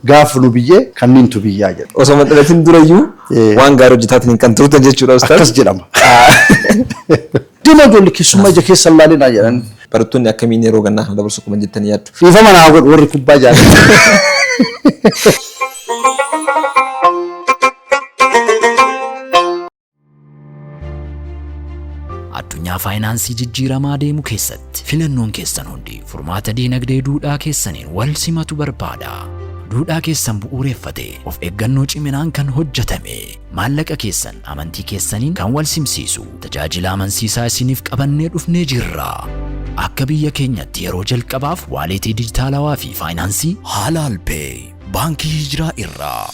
Gaaf nu biyyee kanniintu biyyaa jedhu. Osoo hin dhalatin durayyuu Eh. waan gaarii hojjetaatiin kan turtan jechuudha ustaaz. Akkas jedhama. Dima ijoolli keessummaa ija keessa hin laalinaa jedhan. Barattoonni akkamiin yeroo gannaa kana dabarsu qaban jettanii yaaddu? Dhiifama naa godhu warri kubbaa jaalatu. Addunyaa faayinaansii jijjiiramaa deemu keessatti filannoon keessan hundi furmaata diinagdee duudhaa keessaniin wal simatu barbaada. Duudhaa keessan bu'uureffatee of eeggannoo ciminaan kan hojjetame maallaqa keessan amantii keessaniin kan wal simsiisu tajaajila amansiisaa isiniif qabannee dhufnee jirra. Akka biyya keenyatti yeroo jalqabaaf waaleetii dijitaalawaa fi faayinaansii Halal Pay Baankii Hijraa irraa.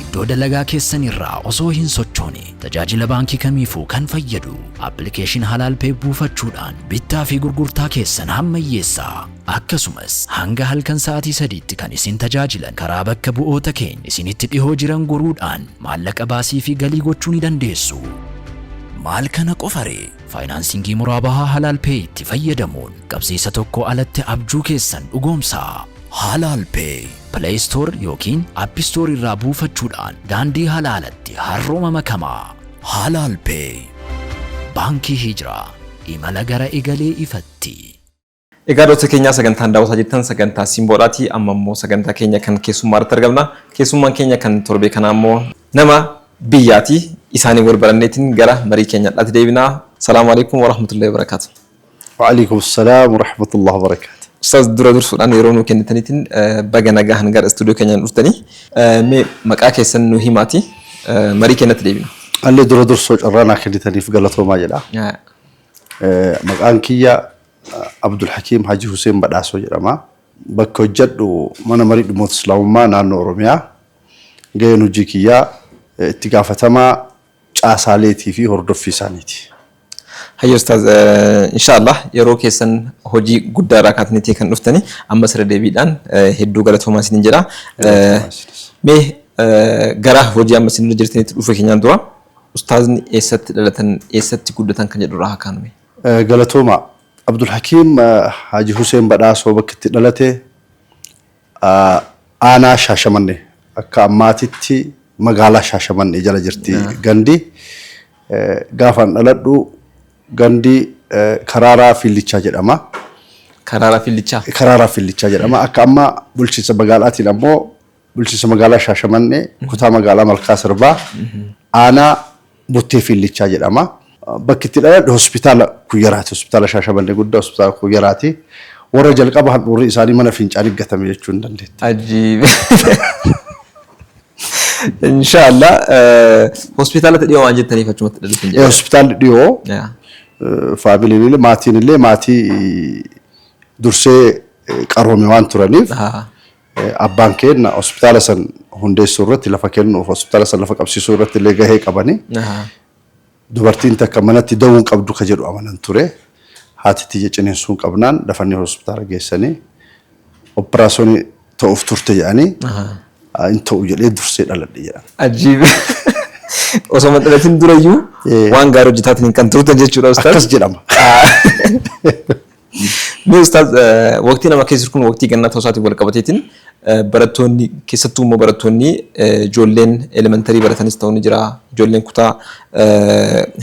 Iddoo dalagaa keessan irraa osoo hin sochoone tajaajila baankii kamiifuu kan fayyadu appilikeeshin Halaal Pay buufachuudhaan bittaa fi gurgurtaa keessan hammayyeessaa. Akkasumas hanga halkan sa'aatii sadiitti kan isin tajaajilan karaa bakka bu'oota keenya isinitti dhihoo jiran goruudhaan maallaqa baasii fi galii gochuu ni dandeessu. Maal kana qofare? Faayinaansiingii muraabahaa Halaal Pay itti fayyadamuun qabsiisa tokko alatti abjuu keessan dhugoomsaa. Halaal Pay Play Store ykn App Store irraa buufachuudhaan daandii halaalatti har'uma makamaa! Halaal Pay Baankii Hijraa Imala gara egalee ifatti! Egaa doota keenyaa sagantaan daawwataa jirtan sagantaa Simboodhaati. Amma immoo sagantaa keenya kan keessummaa irratti argamna. Keessummaan keenya kan torbee kanaa immoo nama biyyaati. Isaanii wal baranneetiin gara marii keenya har'aatti deebina. Salaamu alaikum warahmatullahi wabarakatuh. Wa'aleykum salaam warahmatullahi wabarakatuh. Ustaaz dura dursuudhaan yeroo nuu kennitaniitiin baga nagahan gara istuudiyoo keenyaa dhuftanii. Mee maqaa keessan nuu himaatii marii keenyatti deebina. Anillee dura dursoo carraa naa kennitaniif galatoomaa jedha. Maqaan kiyya Abdulhakiim Hajii Huseen Badhaasoo jedhama. Bakka hojjedhu mana marii dhimmoota Islaamummaa naannoo Oromiyaa. Gaheen hojii kiyyaa itti gaafatamaa caasaaleetii fi hordoffii isaaniiti. Hayyee ustaaz inshaa allaah yeroo keessan hojii guddaa irraa kaataniitii kan dhuftani ammas irra deebiidhaan hedduu galatoomaa isiniin jedha. Galatoomaa isinis. Mee gara hojii amma isin irra jirtanitti dhufa keenyaan dura ustaazni eessatti dhalatan eessatti guddatan kan jedhu irraa haa kaanu mee. Galatoomaa. Abdulhakiim Haaji Huseen Badhaasoo bakki itti dhalate Aanaa Shaashamanne akka ammaatitti magaalaa Shaashamanne jala jirti gandi. Gaafaan dhaladhu gandi Karaaraa Fiillichaa jedhama. Karaaraa Fiillichaa? Karaaraa Fiillichaa jedhama. Akka amma bulchiinsa magaalaatiin ammoo bulchiinsa magaalaa Shaashamanne kutaa magaalaa Malkaa Sirbaa aanaa Bottee Fiillichaa jedhama. Bakki itti dhaladhe hospitaala Kuyyaraati. Hospitaala Shaashamannee guddaa hospitaala Kuyyaraati. Warra jalqaba handhuurri isaanii mana fincaanii gatame jechuu hin dandeettu. Ajiib. Inshaallah hospitaalatti dhiyoo waan jettaniif achumatti dhalattan Ee, jedha. Hospitaalli dhiyoo Yaa. faamiliin illee maatiin illee maatii dursee eh, qaroome waan turaniif Haa. Abbaan keenna hospitaala san hundeessuu irratti lafa kennuuf hospitaala san lafa qabsiisuu irratti illee gahee qabani. Ahaa. Dubartiin takka manatti da'uu hin qabdu ka jedhu amanan ture. Haati tiyya ciniinsuun qabnaan dafanii hospitaala geessanii operaasonii ta'uuf turte jedhanii Ahaa. "Haa, hin ta'u jedhee dursee dhaladhe jedhan. Ajiib. Osoo hin dhalatin durayyuu Ee. waan gaarii hojjetaatiin kan turtan jechuudha ustaaz. Akkas jedhama. Mee ustaaz waqtii nama keessa kun waqtii gannaa ta'uu isaatiin wal qabateetiin barattoonni keessattuu immoo barattoonni ijoolleen elementarii baratanis ta'uu ni jira ijoolleen kutaa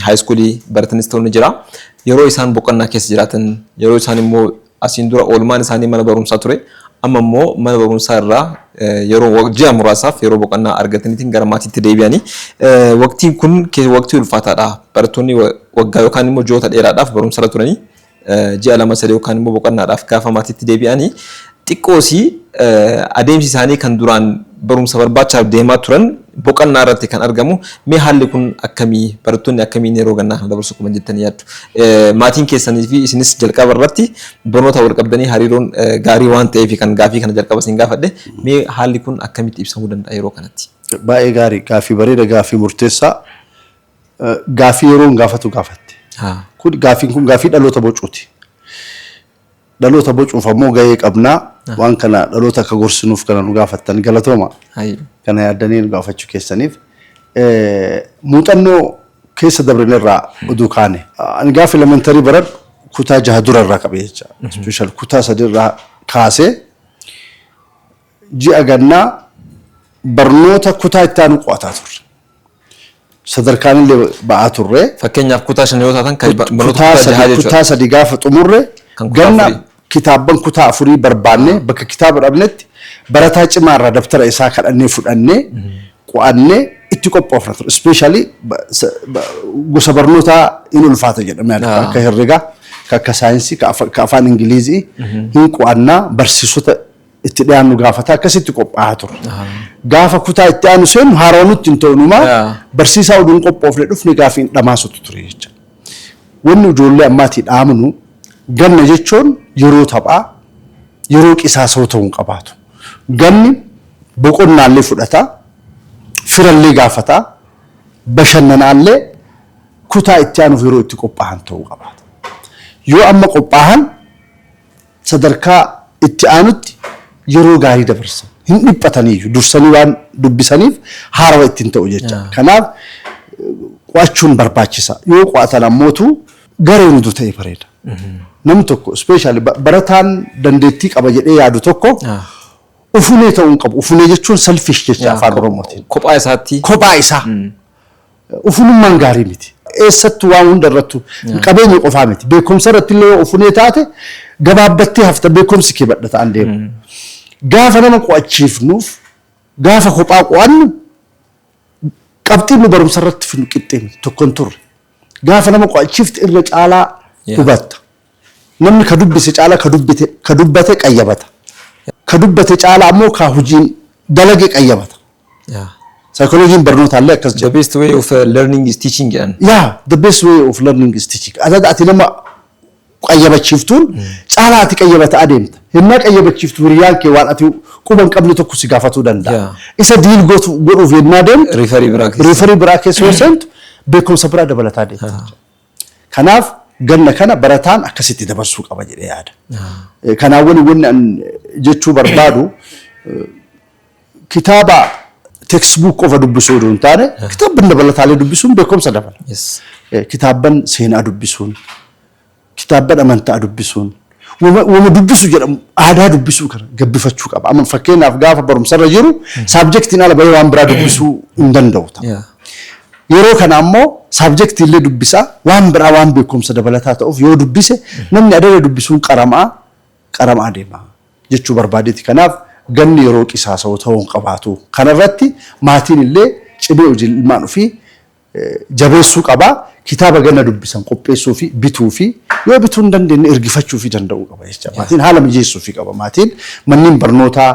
haayiskuulii baratanis ta'uu ni jira yeroo isaan boqonnaa keessa jiraatan yeroo isaan immoo asiin dura oolmaan isaanii mana barumsaa ture amma immoo mana barumsaa irraa yeroo ji'a muraasaaf yeroo boqonnaa argataniitiin gara maatiitti deebi'anii waqtiin kun waqtii ulfaataadha barattoonni waggaa yookaan immoo ji'oota dheeraadhaaf barumsarra turanii ji'a lama sadii yookaan immoo boqannaadhaaf gaafa maatiitti deebi'ani xiqqoosi adeemsi isaanii kan duraan barumsa barbaachaaf deemaa turan boqannaa irratti kan argamu. Mee haalli kun akkamii barattoonni akkamiin yeroo gannaa kana dabarsu kuman jettanii yaaddu? Maatiin keessanii fi isinis jalqaba irratti barnoota wal qabdanii hariiroon gaarii waan ta'eef kan gaafii kana jalqaba isin gaafadhe. Mee haalli kun akkamitti ibsamuu danda'a yeroo kanatti? Baay'ee gaarii gaaffii bareeda gaaffii murteessaa. gaaffii yeroon gaafatu gaafatte. Haa. Kun gaaffiin kun gaaffii dhaloota bocuuti. Dhaloota bocuuf ammoo gahee qabna. Waan kana dhaloota akka gorsinuuf kana nu gaafattan galatooma. Hayyu. Kana yaaddanii nu gaafachuu keessaniif. Eh, Muuxannoo keessa dabrine irraa oduu kaane. Ani gaafa elementarii baradhu kutaa jaha dura irraa qabee jecha. Special kutaa sadi irraa kaasee ji'a gannaa barnoota kutaa itti aanu qo'ataa turre. Sadarkaanillee ba'aa turre. Fakkeenyaaf kutaa shan yoo taatan kan barnoota Kutaa kutaa sadi, jahaa jechuudha. kutaa sadi gaafa xumurre Kan kutaa ganna afurii. kitaabban kutaa afurii barbaannee bakka kitaaba dhabnetti barataa cimaa irraa dabtara isaa kadhannee fudhannee qo'annee itti qophoofna ture. Ispeeshaalii gosa barnootaa hin ulfaata jedhamee yaadama. Ah. Akka herregaa, ka akka saayinsii, ka afa- ka afaan Ingilizii hin qo'annaa barsiisota itti dhiyaannu gaafata akkasitti qophaa'a ture. Gaafa kutaa itti aanu seennu haarawa nutti hin ta'unumaa Yeah. barsiisaa oduun qophoofne dhufne gaafi hin dhamaasutu ture jecha. Wanni ijoollee ammaatii dhaamnu ganna jechuun yeroo taphaa yeroo qisaasoo ta'uu hin qabaatu. Ganni boqonnaallee fudhata, firallee gaafata, bashannanaallee kutaa itti aanuuf yeroo itti qophaa'an ta'uu qabaata. Yoo amma qophaa'an sadarkaa itti aanutti yeroo gaarii dabarsa. Hin dhiphataniiyyu. Dursanii waan dubbisaniif haarawa itti hin ta'u jecha. Kanaaf qo'achuun barbaachisa. Yoo qo'atan ammootu gareen utuu ta'e bareeda. Nam tokko ispeeshaali barataan dandeettii qaba jedhee yaadu tokko ufunee ta'uu hin qabu. Ufunee jechuun selfish jecha afaan Oromootiin. Kophaa isaatti. Kophaa isaa. Ufunummaan gaarii miti. Eessattu waan hunda irrattu qabeenya qofaa miti. Beekumsa irratti illee yoo ufunee taate gabaabbattee hafta beekumsi kee badha ta'an deema. Gaafa nama qo'achiifnuuf gaafa kophaa qo'annu qabxiin nu barumsa irratti fidnu qixxee miti tokko hin turre. Gaafa nama qo'achiifte irra caalaa hubatta. Namni ka dubbise caala ka dubbite ka dubbate qayyabata. Ka dubbate caala ammoo ka hujiin dalage qayyabata. Yeah. Saayikolojiin barnootaallee akkas The jedha. best way of uh, learning is teaching jedhan. Yeah, the best way of learning is teaching. Adada ati nama qayyabachiiftuun caala ati qayyabata adeemta. Hennaa qayyabachiiftu hiriyaan kee waan ati quba hin qabne tokko si gaafatuu danda'a. Yeah. Isa diil gootu- godhuuf hennaa deemtu Riifarii biraa keessa. riifarii biraa keessa yoo seentu beekumsa biraa dabalataa deemta. Kanaaf ganna kana barataan akkasitti dabarsuu qaba jedhee yaada. Kanaan waliin wanni an jechuu barbaadu kitaaba teksbuuk qofa dubbisuu oduu hin taane kitaabban dabalataalee dubbisuun beekumsa dabala. Kitaabban seenaa dubbisuun, kitaabban amantaa dubbisuun. Wama wama dubbisu jedhamu aadaa dubbisuu kana gabbifachuu qaba. Amma fakkeenyaaf gaafa barumsarra jiru saabjektiin ala bahee waan biraa dubbisuu hin danda'u ta'a. Yeah. Yeroo kana ammoo saabjektii illee dubbisaa waan biraa waan beekumsa dabalataa ta'uuf yoo dubbise namni adada dubbisuun qaramaa qaramaa deema jechuu barbaadeeti. Kanaaf ganni yeroo qisaasa'u ta'uu hin qabaatu. Kanarratti maatiin illee cimee hojii ilmaan ofii jabeessuu qaba. Kitaaba ganna dubbisan qopheessuufi bituufi yoo bituu hin dandeenye ergifachuufi danda'uu qaba jecha maatiin haala mijeessuufi qaba maatiin manneen barnootaa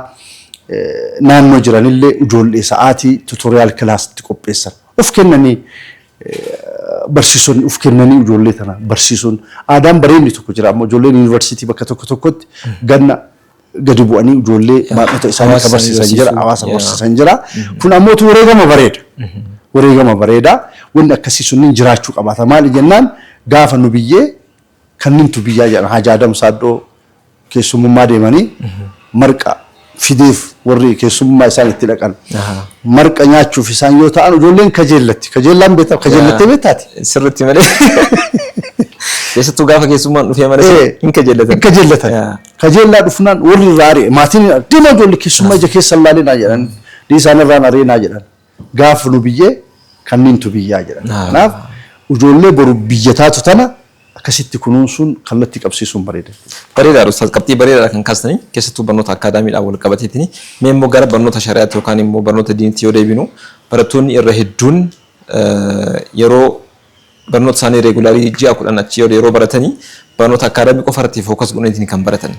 naannoo jiranillee ijoollee sa'aatii tutoriyaal kilaasitti qopheessan of kennanii barsiisonni of kennanii ijoollee tana barsiisuun aadaan bareedni tokko jira. Amma ijoolleen yuunivarsiitii bakka tokko tokkotti ganna gadi bu'anii ijoollee baadhota isaanii akka barsiisan jira, hawaasa barsiisan jira. Kun ammoo tu wareegama bareeda. Wareegama bareeda. Wanni akkasii sunniin jiraachuu qabaata. Maali jennaan gaafa nu biyyee kannintu biyyaa jedhan Haji Adam Saaddoo keessummummaa deemanii marqa fideef warri keessummummaa isaan itti dhaqan. Marqa nyaachuuf isaan yoo ta'an ijoolleen kajeellatti. Kajeellaan beektaa kajeellattee beektaati. Sirriitti malee. Keessattuu gaafa keessummaan dhufee mana hin kajeellatan. Hin kajeellatan. Kajeellaa dhufnaan warri irraa ari'e. Maatiin hin ari'e. Deemaa ijoollee keessummaa ija keessa hin laalinaa jedhan. Dhiisaa narraan ariinaa jedhan. Gaafa nu biyyee kanniintu biyyaa jedhan. Kanaaf ijoollee boru biyya taatu tana akkasitti kunuunsuun kallattii qabsiisuun bareeda jechuudha. Bareedaadha Ustaaz qabxii bareedaadha kan kaastanii keessattuu barnoota akkaadaamiidhaan wal qabateetini mee immoo gara barnoota shari'aatti yookaan immoo barnoota diinitti yoo deebinu barattoonni irra hedduun yeroo Barnoota isaanii regularly ji'a kudhan achii ol yeroo baratani barnoota academic qofa irratti focus godhaniitiin kan baratan.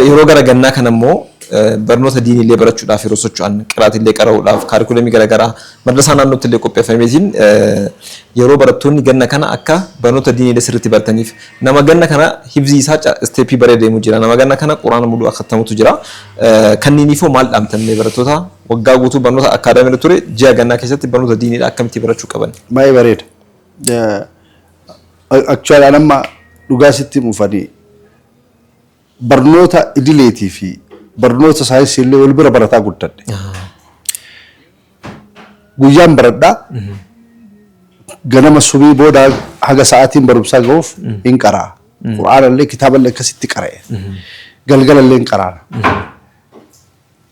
Yeroo gara gannaa kana immoo barnoota diinii illee barachuudhaaf yeroo socho'an qiraati illee qara'uudhaaf kaarikulamii garaagaraa madrasaa naannootti illee qopheeffameetiin yeroo barattoonni ganna kana akka barnoota diinii illee sirriitti barataniif nama ganna kana hibzii isaa isteeppii baree deemu jira nama ganna kana quraana muluu akkattamutu jira kanniiniifoo maal dhaamtan barattoota Waggaa guutuu barnoota academy irra ture ji'a gannaa keessatti barnoota diinii dha akkamitti barachuu qaban. Baay'ee bareeda. Actually an amma dhugaa sitti himuuf ani barnoota idileetii fi barnoota saayinsii illee wal bira barataa guddadhe. Guyyaan baradhaa ganama subii booda haga sa'aatiin barumsaa gahuuf hin qaraa. Qur'aana illee kitaaba illee akkasitti qara'e. Galgala illee hin qaraana.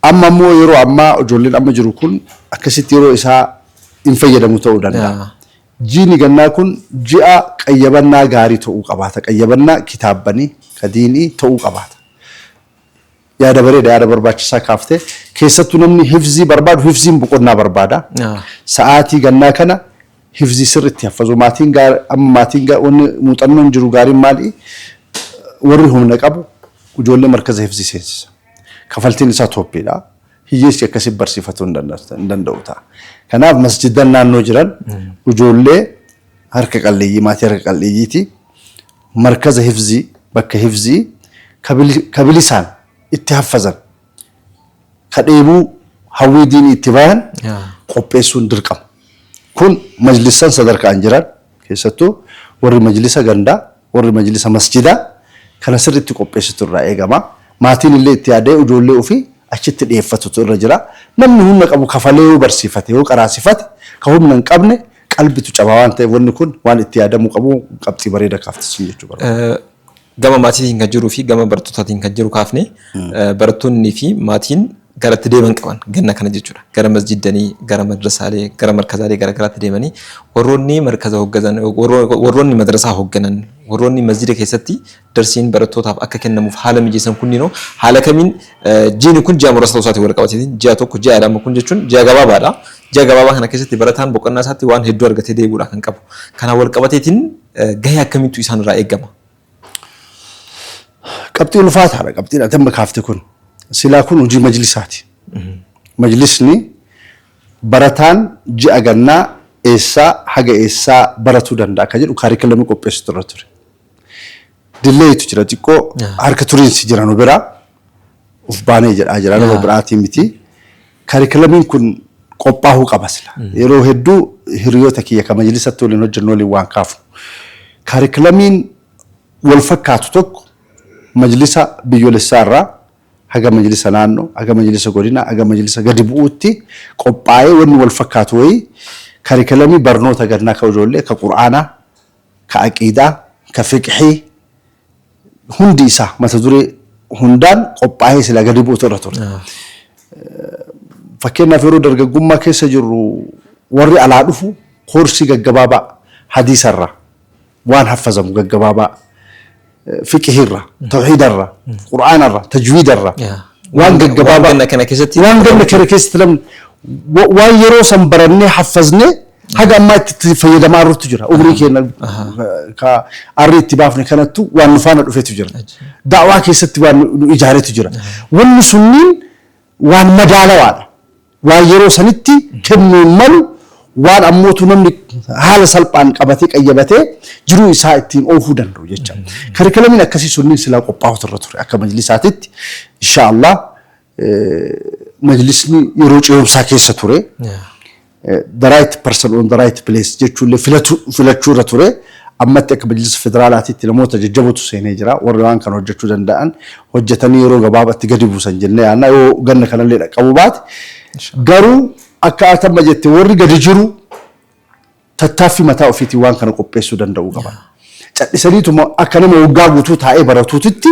Amma immoo yeroo ammaa ijoolleen amma jiru kun akkasitti yeroo isaa hin fayyadamu ta'uu danda'a. Yaa. Jiini gannaa kun ji'a qayyabannaa gaarii ta'uu qabaata. Qayyabannaa kitaabbanii, ka diinii ta'uu qabaata. Yaada bareeda, yaada barbaachisaa kaafte. Keessattuu namni hifzii barbaadu, hifziin boqonnaa barbaada. Yaa. Sa'aatii gannaa kana hifzii sirriitti haffazuu. Maatiin gaar, amma maatiin gaar, wanni muuxannoon jiru gaariin maali? Warri humna qabu ijoollee markaza hifzii seensisa. Kafaltiin isaa tooppii dha. Hiyyeessi akkasiin barsiifatuu hin danda'u- hin danda'u ta'a. Kanaaf masjiddan naannoo jiran ijoollee harka qalleeyyii, maatii harka qal'eeyyiiti markaza hifzii, bakka hifzii ka bili- ka bilisaan itti haffazan, ka dheebuu hawwii diinii itti bayan Yaa. qopheessuun dirqama. Kun majlissan sadarkaan jiran Keessattuu warri majlisa gandaa, warri majlisa masjidaa kana sirriitti qopheessitu irraa eegama. Maatiin illee itti yaadee ujoollee ufii achitti dhiyeeffatutu irra jira. Namni hunna qabu kafalee yoo barsiifate, yoo qaraasifate, ka hunna hin qabne qalbitu caba waan ta'eef wanni kun waan itti yaadamuu qabu qabxii bareeda kaafte siin jechuu barbaada. Gama maatiitiin kan jiruu fi gama barattootatiin kan jiru kaafne barattoonnii fi maatiin gara itti deeman qaban ganna kana jechuudha. Gara masjiddanii, gara madrasaalee, gara markazaalee garaagaraatti deemanii warroonni markaza hoggazan, warroonni madrasaa hogganan, warroonni masjida keessatti darsiin barattootaaf akka kennamuuf haala mijeessan kunniinoo haala kamiin jiini kun ji'a muraasa ta'uu isaatiin wal qabateetiin ji'a tokko ji'a lama kun jechuun ji'a gabaabaadha. Ji'a gabaabaa kana keessatti barataan boqonnaa isaatti waan hedduu argatee deebi'uudha kan qabu. Kana wal qabateetiin gahee akkamiitu isaan irraa eegama? Qabxii ulfaataadha qabxiin ati amma kaafte kun. Silaa kun hojii majlisaati. Majlisni barataan ji'a gannaa eessaa haga eessaa baratuu danda'a akka jedhu kaarikulamii qopheessutu irra ture. Dilleeyitu jira xiqqoo harka turiinsi jira nu biraa. of baanee jedhaa jira nama biraatii miti. Karikilamiin kun qophaa'uu qaba sila. Yeroo hedduu hiriyoota kiyya kan majlisatti waliin hojjennu waliin waan kaafnu. Karikilamiin wal fakkaatu tokko majlisa biyyolessaa irraa haga majlisa naannoo, haga majlisa godina, haga majlisa gadi bu'uutti qophaa'ee wanni wal fakkaatu wayii karikilamii barnoota gannaa ka ijoollee ka qur'aanaa ka aqiidaa, ka fiqhii, hundi isaa mata duree hundaan qophaa'ee silaa gadi bu'utu irra ture. Fakkeenyaaf yeroo dargaggummaa keessa jirru warri alaa dhufu koorsii gaggabaabaa hadiisa irraa waan haffazamu gaggabaabaa fiqihii irra, tawhiida irra, qur'aana irra, tajwiida irra Yaa. waan Waan gaggabaabaa ganna kana keessatti waan ganna kana keessatti lamni wa- waan yeroo san barannee haffazne haga ammaa itti itti fayyadamaa jirrutu jira umrii keenya ka arrii itti baafne kanattu waan nu faana dhufetu jira daawaa keessatti waan nu- nu ijaaretu jira wanni sunniin waan madaalawaadha waan yeroo sanitti kennuun malu waan ammootu namni haala salphaan qabatee qayyabatee jiruu isaa ittiin oofuu danda'u jecha. Karikilamiin akkasii sunniin silaa qophaa'utu irra ture akka majlisaatitti insha Allah majlisni yeroo ce'umsaa keessa ture. the right person on the right place jechuullee filachuu irra ture. Ammatti akka bajata federaalaatiitti namoota jajjabootu seenee jira. Warri waan kana hojjachuu danda'an hojjatanii yeroo gabaabatti gadi buusan jennee yaadna. Yoo ganna kanallee dhaqqabuu baate garuu akka ati amma jette warri gadi jiru tattaaffii mataa ofiitiin waan kana qopheessuu danda'uu qaban. Cadhisaniituma akka nama waggaa guutuu taa'ee baratuutitti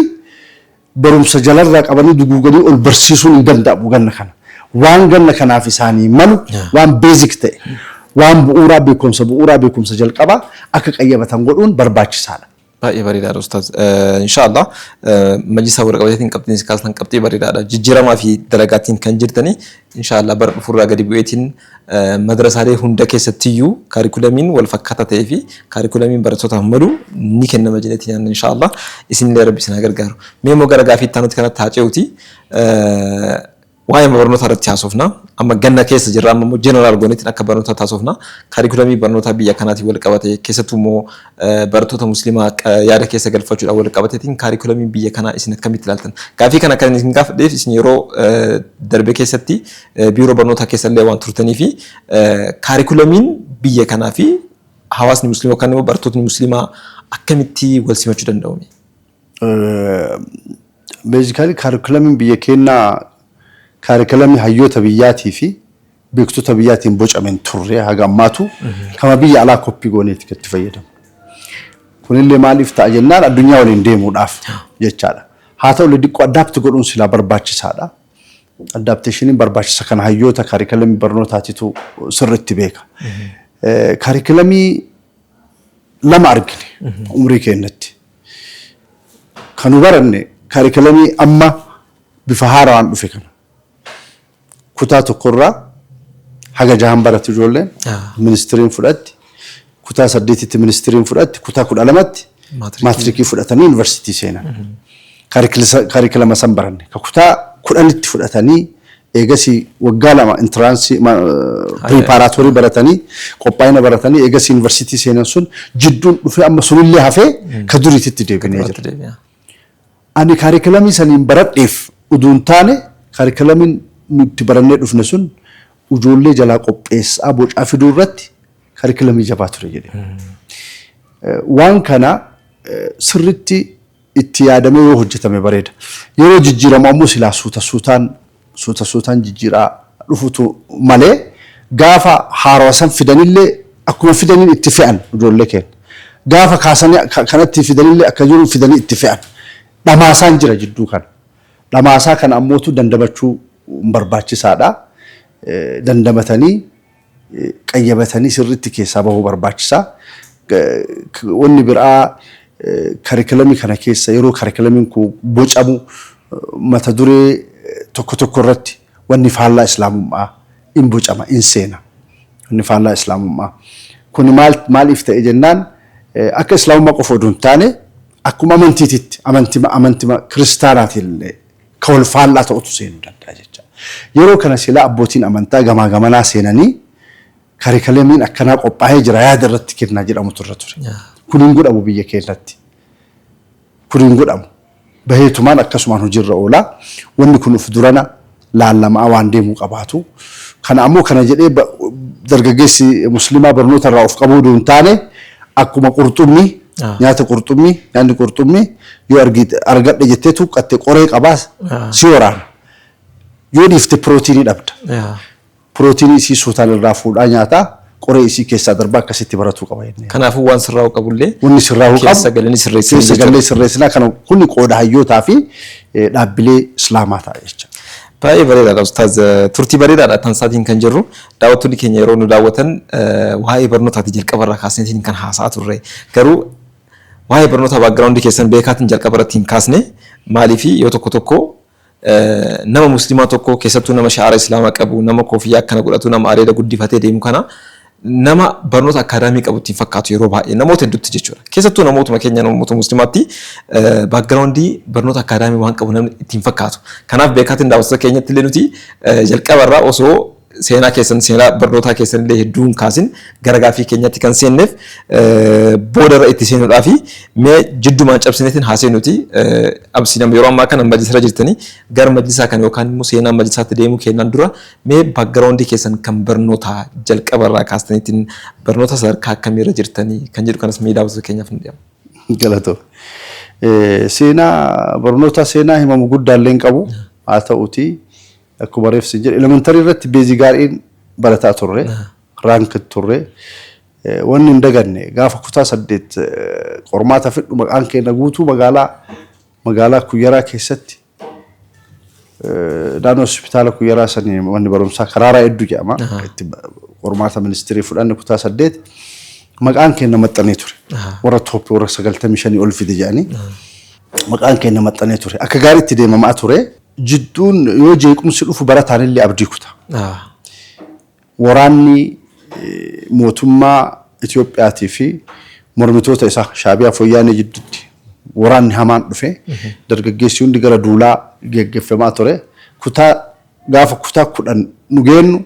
barumsa jalarraa qabanii duguuganii ol barsiisuun hin danda'amu ganna kana. Waan ganna kanaaf isaanii malu waan basic ta'e waan bu'uuraa beekumsa bu'uuraa beekumsa jalqabaa akka qayyabatan godhuun barbaachisaadha. Baay'ee bareedaadha Ustaaz. Inshaallah majlisa warra qabateetiin qabxiin isin kaastan qabxii bareedaadha. Jijjiiramaa fi dalagaatiin kan jirtanii Inshaa Allaah bara dhufu irraa gadi bu'eetiin madrasaalee hunda keessattiyyuu kaarikulamiin wal fakkaataa ta'ee fi kaarikulamiin barattootaaf malu ni kennama jedheetiin yaadna inshaa Allaah. Isinillee Rabbi isin haa gargaaru. Mee immoo gara gaafii itti aanutti kanatti haa ce'uuti. Waa'ee barnootaa irratti haasofna. Amma ganna keessa jirra amma immoo jeneraal gooneetiin akka barnootaatti haasofna. Kaarikulamii barnootaa biyya kanaatiin wal qabate keessattuu immoo Barattoota Muslimaa akka yaada keessa galfachuudhaan wal qabateetiin kaarikulamii biyya kanaa isin akkamitti ilaaltan? Gaaffii kana kan isin gaafadheef isin yeroo darbe keessatti biiroo barnootaa keessallee waan turtanii fi kaarikulamiin biyya kanaa fi hawaasni muslimaa yookaan immoo barattootni muslimaa akkamitti wal simachuu danda'u? Beezikaalii kaarikulamiin biyya keenyaa kaarikulamii hayyoota biyyaatii fi beektota biyyaatiin bocame hin turre haga ammaatu kama biyya alaa koppii gooneeti kan itti fayyadamu. Kunillee maaliif ta'a jennaan addunyaa waliin deemuudhaaf jechaadha. Haa ta'ullee diqqoo addaapti godhuun silaa barbaachisaadha. Addaapteeshiniin barbaachisa kana hayyoota kaarikalamii barnootaatitu sirriitti beeka. Eh, Kaarikalamii lama argine umrii keenyatti. Kan nu baranne kaarikalamii amma bifa haaraan dhufe kana. Kutaa tokko irraa haga jahan baratu ijoolleen. Ministiriin fudhatti. Kutaa saddeetitti ministiriin fudhatti. Kutaa kudha lamatti maatirikii fudhatanii yuunivarsiitii seenan. Kaarikilama san baranne. Ka kutaa kudhanitti fudhatanii eegasii waggaa lama intiraansii piriipaaraatoorii baratanii qophaa'ina baratanii eegasii yuunivarsiitii seenan sun jidduun dhufee amma sunillee hafee ka duriititti deebinee jira. Ani kaarikilamii saniin baradheef uduu hin taane, kaarikalamiin nu itti barannee dhufne sun ujoollee jalaa qopheessa'aa bocaa fiduu irratti kaarikilamii jabaa ture jedhe. Waan kana sirriitti itti yaadamee yoo hojjetame bareeda. Yeroo jijjiiramu ammoo silaa suuta suutaan suuta suutaan jijjiiraa dhufutu malee gaafa haarawa san fidanillee akkuma fidaniin itti fe'an ijoollee keenya. Gaafa kaasanii kanatti fidanillee akka jiruun fidanii itti fe'an. Dhamaasaan jira jidduu kana. Dhamaasaa kana ammootu dandamachuu barbaachisaadha. Dandamatanii. qayyabatanii sirriitti keessaa bahuu barbaachisa. Wanni biraa karikilamii kana keessa yeroo karikilamiin kun bocamu mata duree tokko tokko irratti wanni faallaa Islaamummaa in bocama, in seena. Wanni faallaa Islaamummaa. Kuni maal maaliif ta'e jennaan akka Islaamummaa qofa odoo hin taane akkuma amantiititti amantima amantima kiristaanaatiillee ka wal faallaa ta'utu seenuu danda'a jecha. Yeroo kana silaa abbootiin amantaa gamaa gamanaa seenanii karikalemiin akkanaa qophaa'ee jira yaada irratti kennaa jedhamutu irra ture. Kun hin godhamu biyya keenyatti. Kun hin godhamu. Baheetumaan akkasumaan hojiirra oolaa. Wanni kun of durana laallamaa waan deemuu qabaatu. Kana ammoo kana jedhee dargaggeessi muslimaa barnoota irraa of qabuu duun taane akkuma qurxummii nyaata qurxummii nyaanni qurxummii Yoo argite argadhe jettee tuuqqatte qoree qabaa si waraana. Yoo dhiifte pirootiinii dhabda. Yaa. Pirootiinii isii suutaan irraa fuudhaa nyaataa qoree isii keessaa darbaa akkasitti baratuu qaba jennee. Kanaafuu waan sirraa'u qabullee Wanni sirraa huu qabu. keessa galanii sirreessan Keessa jechuudha. gallee sirreessinaa kana kuni qooda hayyootaa fi eh, dhaabbilee islaamaa ta'a jecha. Baay'ee bareedaadha Ustaaz. Turtii bareedaadha tan isaatiin kan jirru. Daawwattoonni keenya yeroo nu daawwatan eh, waa'ee barnootaati jalqabarraa kaasneetiin kan haasa'aa turre. Garuu Waa'ee barnoota background keessan beekaatiin jalqaba irratti hin kaasne maaliifi yoo tokko tokko nama muslimaa tokko keessattuu nama sha'ara islaamaa qabu nama koofiyyaa akkana godhatu nama areeda guddifatee deemu kana nama barnoota akkaadaamii qabu ittiin fakkaatu yeroo baay'ee namoota hedduutti jechuudha. Keessattuu namootuma keenya namoota muslimaatti background barnoota akkaadaamii waan qabu namni ittiin fakkaatu. Kanaaf beekaatiin daawwattoota keenyatti illee nuti jalqaba irraa osoo seenaa keessan seenaa barnootaa keessan illee hedduu hin kaasin gara gaaffii keenyatti kan seenneef booda irra itti seenuudhaa fi mee jiddumaan cabsineetiin haa seenuti absii nama yeroo ammaa kana majlisarra jirtanii gara majlisaa kana yookaan immoo seenaa majlisaatti deemuu keenyaan dura mee backgroundii keessan kan barnootaa jalqaba irraa kaastaniitiin barnoota sadarkaa akkamiirra jirtanii kan jedhu kanas mee daawwattoota keenyaaf hin dhiyaama. Galatoo. Seenaa barnoota seenaa himamu guddaallee hin qabu haa ta'uutii. Akkuma reef sin jedhe elementarii irratti beezii gaariin barataa turre. Raank turre. Eh, Wanni hin daganne gaafa kutaa saddeet eh, qormaata fidhu maqaan keenya guutuu magaalaa magaalaa kuyyaraa keessatti eh, naannoo hospitaala kuyyaraa sanii manni barumsaa karaaraa hedduu jedhama. Itti ba- Qormaata ministirii fudhanne kutaa saddeet maqaan keenya maxxanee ture. Warra tooppii warra sagaltamii shanii ol fide jedhanii maqaan keenya maxxanee ture. Akka gaariitti deemamaa ture. Jidduun yoo jeequmsi dhufu barataan illee abdii kuta. Waraanni mootummaa Itoophiyaatii fi mormitoota isaa Shaabiyaa fi Wayyaanee jidduutti waraanni hamaan dhufe dargaggeessi hundi gara duulaa geggeffamaa ture. Kutaa gaafa kutaa kudhan nu geennu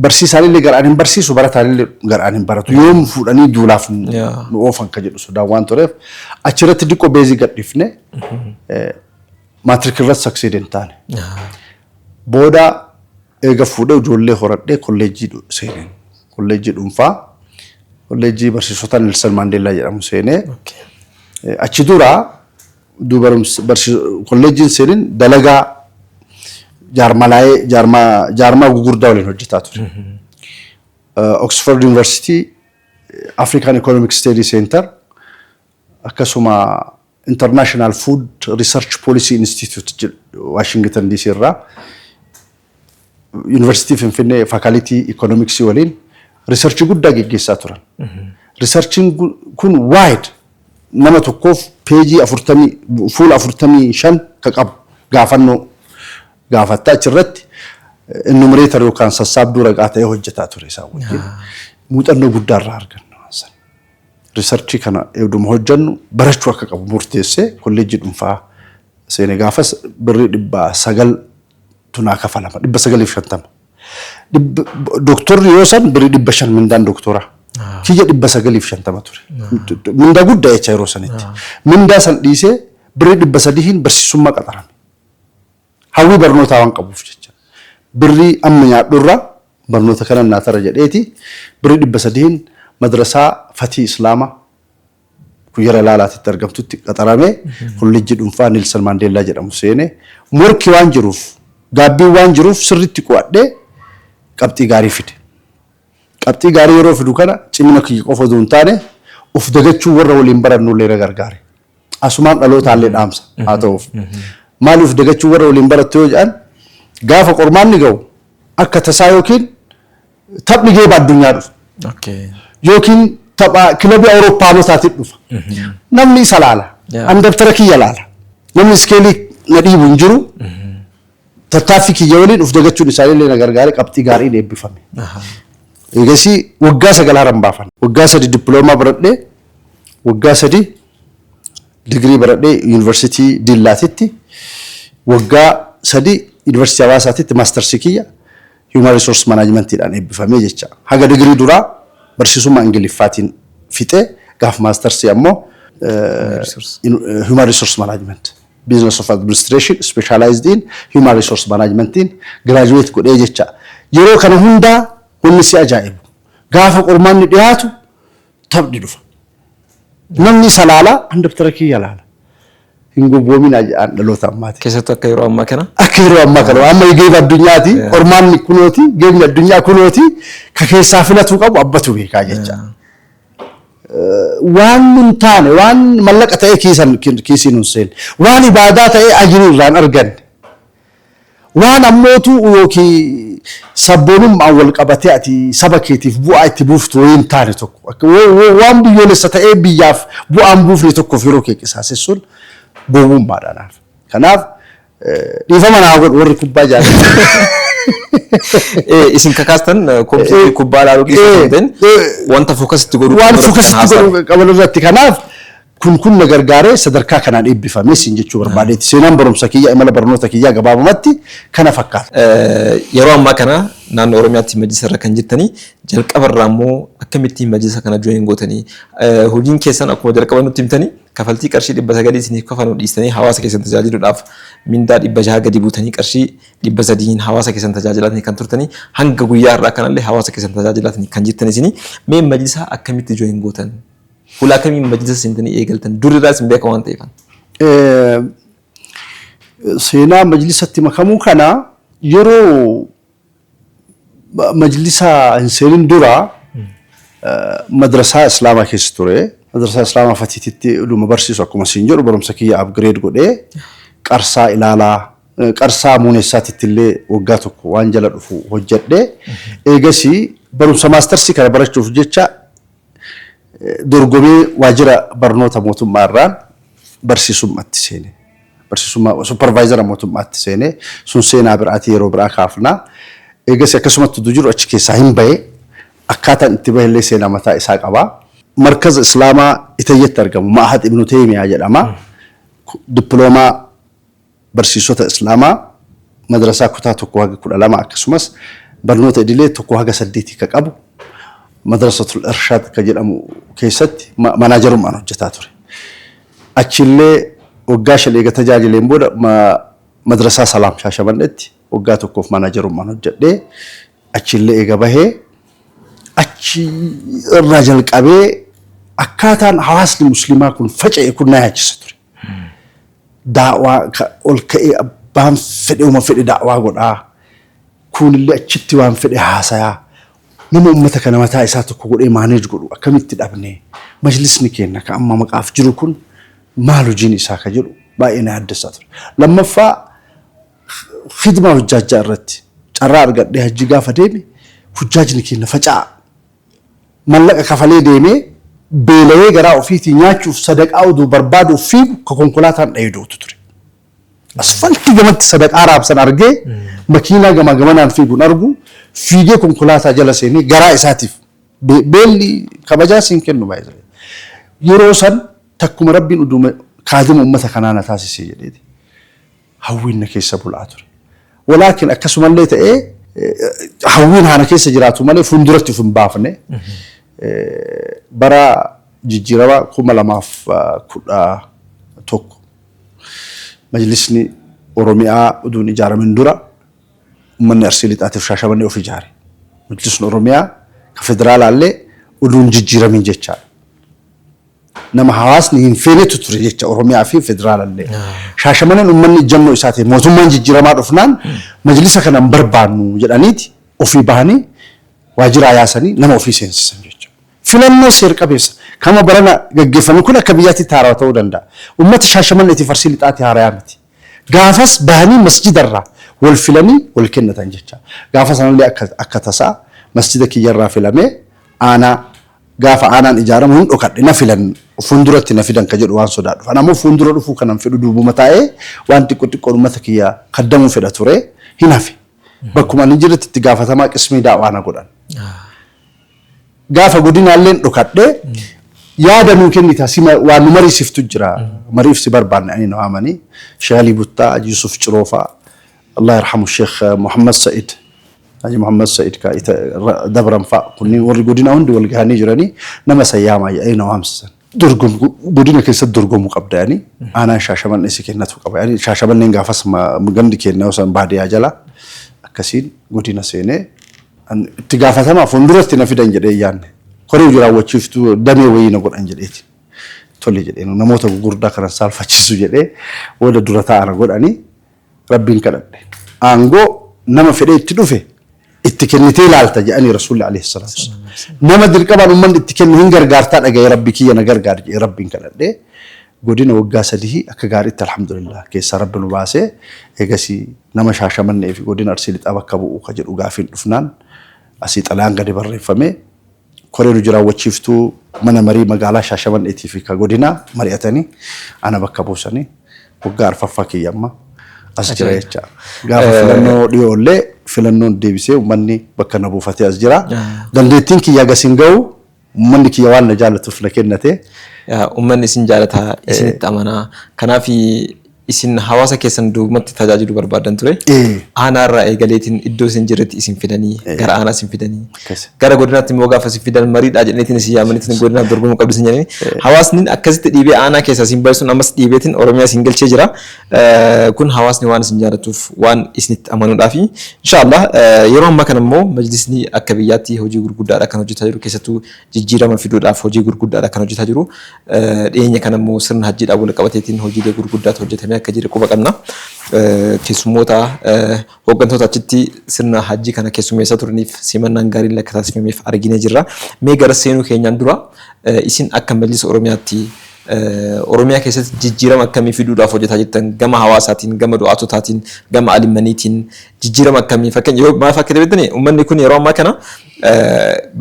Barsiisaanillee garaan hin barsiisu, barataanillee garaan hin baratu. Yoom fuudhanii duulaaf nu Yeah. nu oofan ka jedhu sodaan waan tureef achirratti diqqoo beezii gadhiifne maatirikii irratti saksiidii hin taane. Booda eega fuudhee ijoollee horadhee kolleejjii dhu- seeneen. Kolleejjii dhuunfaa, kolleejjii barsiisota Nelson Maandeellaa jedhamu seenee. Okay. Eh, Achi dura Udduu barumsa barsiis kolleejjiin seenin dalagaa jaarmalaa'ee jaarmaa jaarmaa gugurdaa waliin hojjetaa ture. Oxford University African Economic Study Center akkasuma International Food Research Policy Institute jedhu Washington DC irraa Yuunivarsiitii Finfinnee Faakalitii Ikoonomiksii waliin riisarchii guddaa geggeessaa turan. Riisarchiin kun waayid nama tokkoof peejii afurtamii fuula afurtamii shan ka qabu gaafannoo gaafatta achirratti ennumireetar yookaan sassaabduu ragaa ta'ee hojjetaa ture isaan wajjin. Muuxannoo guddaa irraa arganna waan sana. Riisarchii kana eegduma hojjennu barachuu akka qabu murteessee kolleejjii dhuunfaa seene gaafas birrii dhibba sagal tu naa kafalama dhibba sagalii fi shantama. Dhibba- Doktorri yoo san birii dhibba shan mindaan doktoraa. Kiyya dhibba sagalii fi shantama ture. Mindaa guddaa jecha yeroo sanitti. Mindaa san dhiisee birii dhibba sadihiin barsiisummaa qaxarame. Hawwii barnootaa waan qabuuf jecha. Birrii amma nyaadhurra barnoota kanan naa tara jedheeti birii dhibba sadihiin madrasaa fatii islaama Kuyera Laalaatitti argamtutti qaxarame kollejjii dhunfaa Nelson Mandella jedhamu seene. Morki waan jiruuf, gaabbiin waan jiruuf sirriitti qo'adhee qabxii gaarii fide. Qabxii gaarii yeroo fidu kana cimina kiyya qofa odoo hin taane of dagachuun warra waliin barannullee na gargaare. Asumaan dhalootaallee dhaamsa haa ta'uuf. Maali of dagachuun warra waliin barattu yoo jedhan gaafa qormaanni ga'u akka tasaa yookiin taphni geeba addunyaa dhufa. Okay. Yookiin tapha kilabii Awuroopaanotaatiin dhufa. Namni isa laala. Yeah. Ani dabtara kiyya laala. Namni iskeelii na dhiibu hin jiru. Tattaaffii kiyya waliin of dagachuun isaanii illee na gargaare qabxii gaariin eebbifame. Aha. Eegasii waggaa sagal haran baafan. Waggaa sadi dippiloomaa baradhee waggaa sadi digirii baradhee yuunivarsiitii Dillaatitti waggaa sadi yuunivarsiitii Hawaasaatitti maastarsii kiyya Human Resource Management dhaan eebbifamee jecha. Haga degree duraa barsiisummaa Ingiliffaatiin fixe, gaaf Mastersii ammoo Human Resource Management, Business of Administration specialized in Human Resource Management tiin graduate godhee jecha. Yeroo kana hundaa wanni si ajaa'ibu, gaafa qormaanni dhiyaatu Taphni dhufa. Namni isa laala an dabtara kiyya laala. Hin gowwoomin an dhaloota ammaati. Keessattuu akka yeroo ammaa kana. Akka yeroo ammaa kana amma geeba addunyaati ormaan kunooti geebni addunyaa kunooti ka keessaa filatuu qabu abbatu beekaa jecha. Waan nun taane waan mallaqa ta'ee kiisan kiisiin hin seenne waan ibaadaa ta'ee ajirii irraan arganne. Waan ammootuu ykn sabboonummaan wal qabatee ati saba keetiif bu'aa itti buuftu wayii hin taane tokko akka waan biyyoolessa ta'ee biyyaaf bu'aa hin buufne tokkoof yeroo kee qisaasessuun gowwummaa dha naaf. Kanaaf dhiifama naa godhu warri kubbaa jaallatan. Isin kakaastan kompiitarri kubbaa ilaaluu keessa hin ta'in wanta fookasitti godhuu Waan fookasitti godhu qaban irratti kanaaf Kun kun na gargaaree sadarkaa kanaan eebbifame siin jechuu barbaadeeti. Seenaan barumsa kiyyaa, imala barnoota kiyyaa gabaabumatti kana fakkaata. Yeroo ammaa kana naannoo Oromiyaatti majlisa irra kan jirtanii jalqaba irraa immoo akkamitti majlisa kana join gootanii hojiin keessan akkuma jalqaba nutti himtanii kafaltii qarshii dhibba sagalii isiniif kafalu dhiistanii hawaasa keessan tajaajiluudhaaf mindaa dhibba jaha gadi buutanii qarshii dhibba sadiin hawaasa keessan tajaajilaatanii kan turtanii hanga guyyaa irraa kanallee hawaasa keessan tajaajilaatanii kan jirtan isinii mee majlisaa akkamitti join gootan? Fuula akkamiin majlisa seentanii eegaltan? Dur irraa isin beeka waan ta'eefan. Seenaa majlisatti makamuu kana yeroo majlisa hin seenin dura madrasaa islaamaa keessa ture. Madrasaa islaamaa fatiititti dhuma barsiisu akkuma siin jedhu barumsa kiyya upgrade godhee qarsaa ilaalaa qarsaa muuneessaatitti illee waggaa tokko waan jala dhufu hojjedhe. Eegasii barumsa maastarsii kana barachuuf jecha Dorgomee waajjira barnoota mootummaa irraan barsiisummatti seene. Barsiisummaa supparvaayizara mootummaatti seene. Sun seenaa biraati yeroo biraa kaafna. Eegas akkasumatti utuu jiru achi keessaa hin bahe. Akkaataan itti bahe illee seenaa mataa isaa qaba. Markaza Islaamaa Itayyatti argamu Ma'had Ibnu Teeymiyaa jedhama. Dippiloomaa barsiisota Islaamaa madrasaa kutaa 1-12 akkasumas barnoota idilee 1-8 ka qabu Madrasatul Irshaad ka jedhamu keessatti manaajarummaan hojjataa ture. Achiillee waggaa shan eega tajaajileen booda Madrasaa Salaam Shaashamannetti waggaa tokkoof manaajarummaan hojjadhee achiillee eega bahee achi irraa jalqabee akkaataan hawaasni musliimaa kun faca'e kun na yaachisa ture. Da'waa ka ol ka'ee abbaan fedhe uma fedhe da'waa godhaa, kuunillee achitti waan fedhe haasayaa, nama ummata kana mataa isaa tokko godhee manage godhu akkamitti dhabne? Majlisni keenna ka amma maqaaf jiru kun maal hojiin isaa ka jedhu baay'ee na yaaddessaa ture. Lammaffaa khidmaa hujjaajjaa irratti carraa argadhee hajjii gaafa deeme hujjaajni keenna faca'aa. mallaqa kafalee deemee beela'ee garaa ofiitii nyaachuuf sadaqaa uduu barbaaduuf fiigu ka konkolaataan dhayee du'utu ture. Asfaltii gamatti sadaqaa raabsan argee makiinaa gamaa gamanaan fiigun argu fiigee konkolaataa jala seenee garaa isaatiif beelli kabajaa siin kennu by the way. Yeroo san takkuma Rabbiin uduuma kaadima ummata kanaa na taasise jedheeti. hawwiin na keessa bulaa ture. Walaakin akkasumallee ta'ee hawwiin haana keessa jiraatu malee fuulduratti of hin baafne. Bara jijjiirama kuma lamaaf kudha tokko majlisni Oromiyaa uduun ijaaramin dura ummanni Arsii Lixaatiif Shaashamannee of ijaare. Majlisni Oromiyaa ka federaalaallee uduun jijjiiramin jechaadha. nama hawaasni hin feenetu ture jecha Oromiyaa fi Federaalallee. Shaashamaneen ummanni ijjannoo isaa ta'e mootummaan jijjiiramaa dhufnaan majlisa kana hin barbaannu jedhaniiti ofii bahanii waajiraa yaasanii nama ofii seensisan jecha. Filannoo seer-qabeessa kama barana gaggeeffame kun akka biyyaatti itti haarawa ta'uu danda'a. Ummata Shaashamanneetiif Arsii Lixaatti haarayaa miti. Gaafas bahanii masjida irraa wal filanii wal kennatan jecha. Gaafa sanallee akka akka tasaa masjida kiyya irraa filamee aanaa gaafa aanaan ijaaramu hin dhokadhe na filan fuulduratti na fidan ka jedhu waan sodaadhuuf. Ani ammoo fuuldura dhufuu kanan fedhu duubuma taa'ee waan xiqqo xiqqoon ummata kiyya kaddamuu fedha ture hin hafe. Bakkuma ani jirutti itti gaafatamaa qismii da'waa na godhan. Gaafa godinaalleen dhokadhe yaada nuu kennita sima waan nu mariisiftu jira mariif si barbaanne ani na waamanii Sheekh Alii Buttaa Haji Yusuf Ciroofaa Allah yarhamu Sheekh Muhammad Sa'id Haji Muhammad Sa'id ka ita dabran fa'a kunniin warri godinaa hundi wal gahanii jiranii nama isa yaamaa jedhanii na waamsisan. dorgom godina keessatti dorgomu qabda yani aanaan shaashamanne si kennatu qaba yani shaashamanneen gaafas ma- gandi keenya osoo baadiyaa jala akkasiin godina seenee an itti gaafatamaa fuulduratti na fidan jedhee yaanne koree hojii raawwachiiftuu damee wayii na godhan jedheeti tole jedhee namoota gurguddaa kanan saalfachiisu jedhee booda dura taa'ana godhanii Rabbiin kadhadhe. Aangoo nama fedhee itti dhufe itti kennitee laalta jedhanii Rasuulli alayhi salaatu wassalaam. Nama dirqamaan ummanni itti kenne hin gargaartaa dhaga'ee Rabbi kiyya na gargaari jedhee Rabbiin kadhadhe. Godina waggaa sadihii akka gaariitti alhamdulillah keessaa Rabbi nu baasee eegasii nama Shaashamannee fi godina Arsii Lixaa bakka bu'u ka jedhu gaafiin dhufnaan asii xalayaan gadi barreeffamee Koreen Hojii Raawwachiiftuu Mana Marii Magaalaa Shaashamann'eetii fi ka Godinaa mari'atanii ana bakka buusanii waggaa arfaffaa kiyya amma as jira Ajaa'iba. jecha. Gaafa Eh. filannoo dhiyoo illee filannoon deebisee uummanni bakka na buufatee as jira. Ah. Dandeettiin kiyya gas hin ga'u uummanni kiyya waan na jaallatuuf na kennatee Yaa, Uummanni isin jaalataa, isinitti amanaa. Kanaaf Isin hawaasa keessan duubumatti tajaajilu barbaaddan ture. Ee. Aanaa irraa eegaleetiin iddoo isin jirretti isin fidanii Ee. gara aanaa isin fidanii. Akkasi. Gara godinaatti immoo gaafa isin fidan mariidhaa jedhaniitiin isin yaamaniitiin godinaaf dorgomuu qabdu isin jedhanii. Hawaasni akkasitti dhiibee aanaa keessaa isin bahe sun ammas dhiibeetiin Oromiyaa isin galchee jira. Eh, Kun hawaasni waan isin jaalatuuf waan isinitti amanuudhaafi. Inshaallah eh, yeroo ammaa kana immoo majlisni akka biyyaatti hojii gurguddaadha kan hojjetaa jiru keessattuu jijjiirama fiduudhaaf hojii gurguddaadha kan hojjetaa jiru. Dhiyeenya kana immoo sirna hajjiidhaan walqabateetiin hojiilee gurguddaatu hojjetamee akka jire quba qabna. Keessummoota hooggantoota achitti sirna hajjii kana keessummeessaa turaniif simannaan gaariin lakka taasifameef arginee jirra. Mee gara seenuu keenyaan dura isin akka Majlisa Oromiyaatti Oromiyaa keessatti jijjiirama akkamii fiduudhaaf hojjetaa jirtan gama hawaasaatiin, gama du'aatotaatiin, gama alimmaniitiin jijjiirama akkamii fakkeenya yoo maaf akka ta'e beektanii uummanni kun yeroo ammaa kana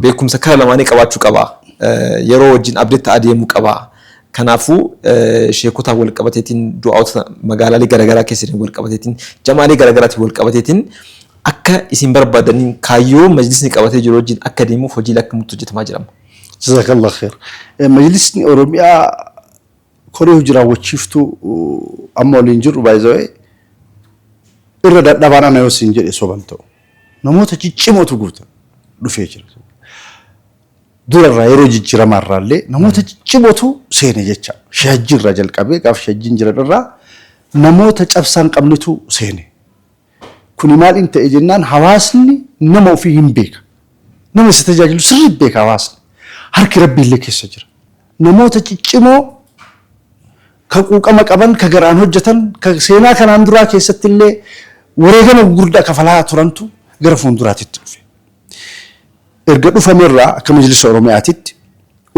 beekumsa kara lamaanii qabaachuu qaba. Yeroo wajjin update ta'aa deemuu qaba. Kanaafuu sheekotaan wal qabateetiin du'aa'ota magaalaalee garaagaraa keessa jiran wal qabateetiin jamaalee garaagaraatiin wal qabateetiin akka isin barbaadaniin kaayyoo majlisni qabatee jiru wajjin akka deemuuf hojiilee akkamitti hojjetamaa jirama? Jazakallah khair. Majlisni Oromiyaa Koree hojii raawwachiiftuu amma waliin jirru by the way irra dadhabaan ana yoo siin jedhe soban ta'u. Namoota ciccimootu guuta dhufee jira. Durarraa yeroo jijjiiramaa irraallee namoota ciccimootu seene jecha shajjii irraa jalqabee gaafa shajjiin jiran irraa namoota cabsaan qabnetu seene. Kuni maal in ta'e jennaan hawaasni nama ofii hin beeka. Nama isa tajaajilu sirriitti beeka hawaasni. Harki Rabbii illee keessa jira. Namoota ciccimoo ka quuqama qaban, ka garaan hojjetan, ka seenaa kanaan duraa keessatti illee wareegama gurguddaa kafalaa turantu gara fuulduraatitti dhufe. Erga dhufame irraa akka Majlisa Oromiyaatitti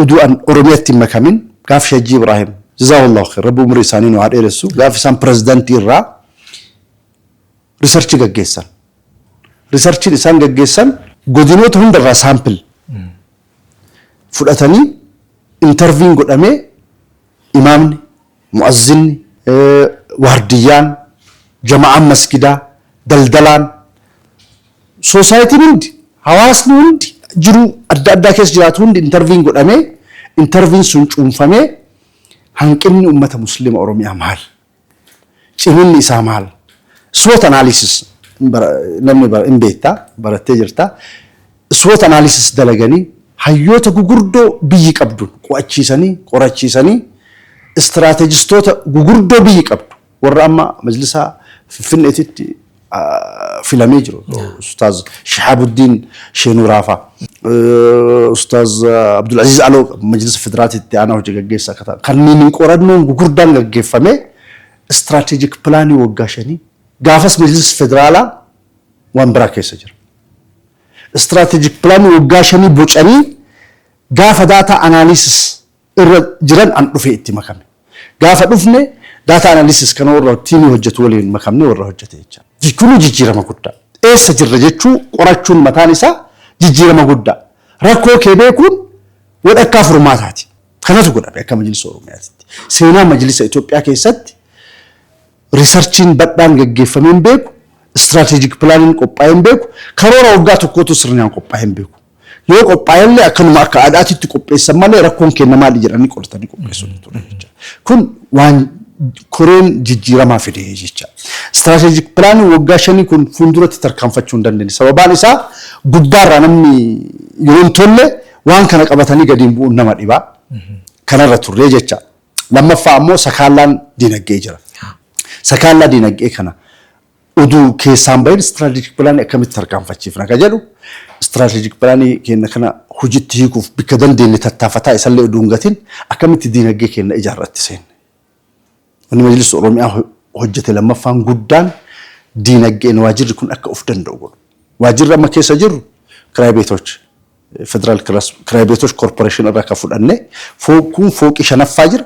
uduu an Oromiyatti hin makamin gaaffi Hajjii Ibraahim jazaahullahu kheer rabbi umurii isaanii nu haa dheeressu gaaffi isaan pirezidantii irraa risarchii gaggeessan. Risarchiin isaan gaggeessan godinoota hunda irraa sample fudhatanii interviin godhamee imaamni, mu'azzinni, waardiyyaan, jama'aan masgidaa, daldalaan, soosaayitiin hundi, hawaasni hundi jiruu adda addaa keessa jiraatu hundi interviin godhamee interviin sun cuunfamee hanqinni ummata muslima Oromiyaa maali? Ciminni isaa maal? SWOT analysis namni hin beekta, barattee jirta. SWOT analysis dalaganii hayyoota gugurdoo biyyi qabdu qo'achiisanii, qorachiisanii istiraatejistoota gugurdoo biyyi qabdu warra amma majlisaa Finfinneetitti filamee jiru. Ustaaz Shihaabuddin Sheenuuraafaa. Ustaaz Abdul Aziz Aloo Majlisa Federaatiitti aanaa hojii gaggeessa akka ta'an. Kanneen qorannoon gugurdaan gaggeeffamee istiraatejik pilaanii waggaa shanii gaafas Majlis Federaalaa waan biraa keessa jira. Istiraatejik pilaanii waggaa shanii bocanii gaafa daataa anaaliisis irra jiran an dhufee itti makame. Gaafa dhufne data analysis kana warra tiimii hojjetu waliin makamne warra hojjete jecha. Kuni jijjiirama guddaa. Eessa jirra jechuu qorachuun mataan isaa jijjiirama guddaa. Rakkoo kee beekuun wadhakkaa furmaataati. Kanatu godhame akka majlisa Oromiyaatitti. Seenaa majlisa Itoophiyaa keessatti Riisarchiin badhaan gaggeeffamee hin beeku, Istiraatejik Pilaaniin qophaa'ee hin beeku, karoora waggaa tokkootuu sirniaan qophaa'ee hin beeku. Yoo qophaa'ellee akkanuma akka aadaatiitti qopheessan malee rakkoon keenna maali jedhanii qoratanii qopheessuun hin turre jecha. Kun waan koreen jijjiiramaa fide jecha. Istiraatejik Pilaaniin waggaa shanii kun fuulduratti tarkaanfachuu hin dandeenye. Sababaan isaa gubbaarraa namni yoo hin tolle waan kana qabatanii gadi hin bu'uun nama dhiba. Kanarra turre jecha. Lammaffaa ammoo sakaallaan diinagdee jira. Sakaallaa diinagdee kana oduu keessaan bahin istiraatejik pilaanii akkamitti tarkaanfachiifna ka jedhu istiraatejik pilaanii keenya kana hojitti hiikuuf bikka dandeenye tattaafataa isallee oduu hin gatin akkamitti diinagdee keenya ijaarratti seenne. Wanni Majlis Oromiyaa hojjete lammaffaan guddaan diinagdeen waajirri kun akka of danda'u godhu. Waajirri amma keessa jirru kiraay beetochi. Federal Kiray Beetosh Korporeeshin irraa kan fudhanne kun fooqii shanaffaa jira,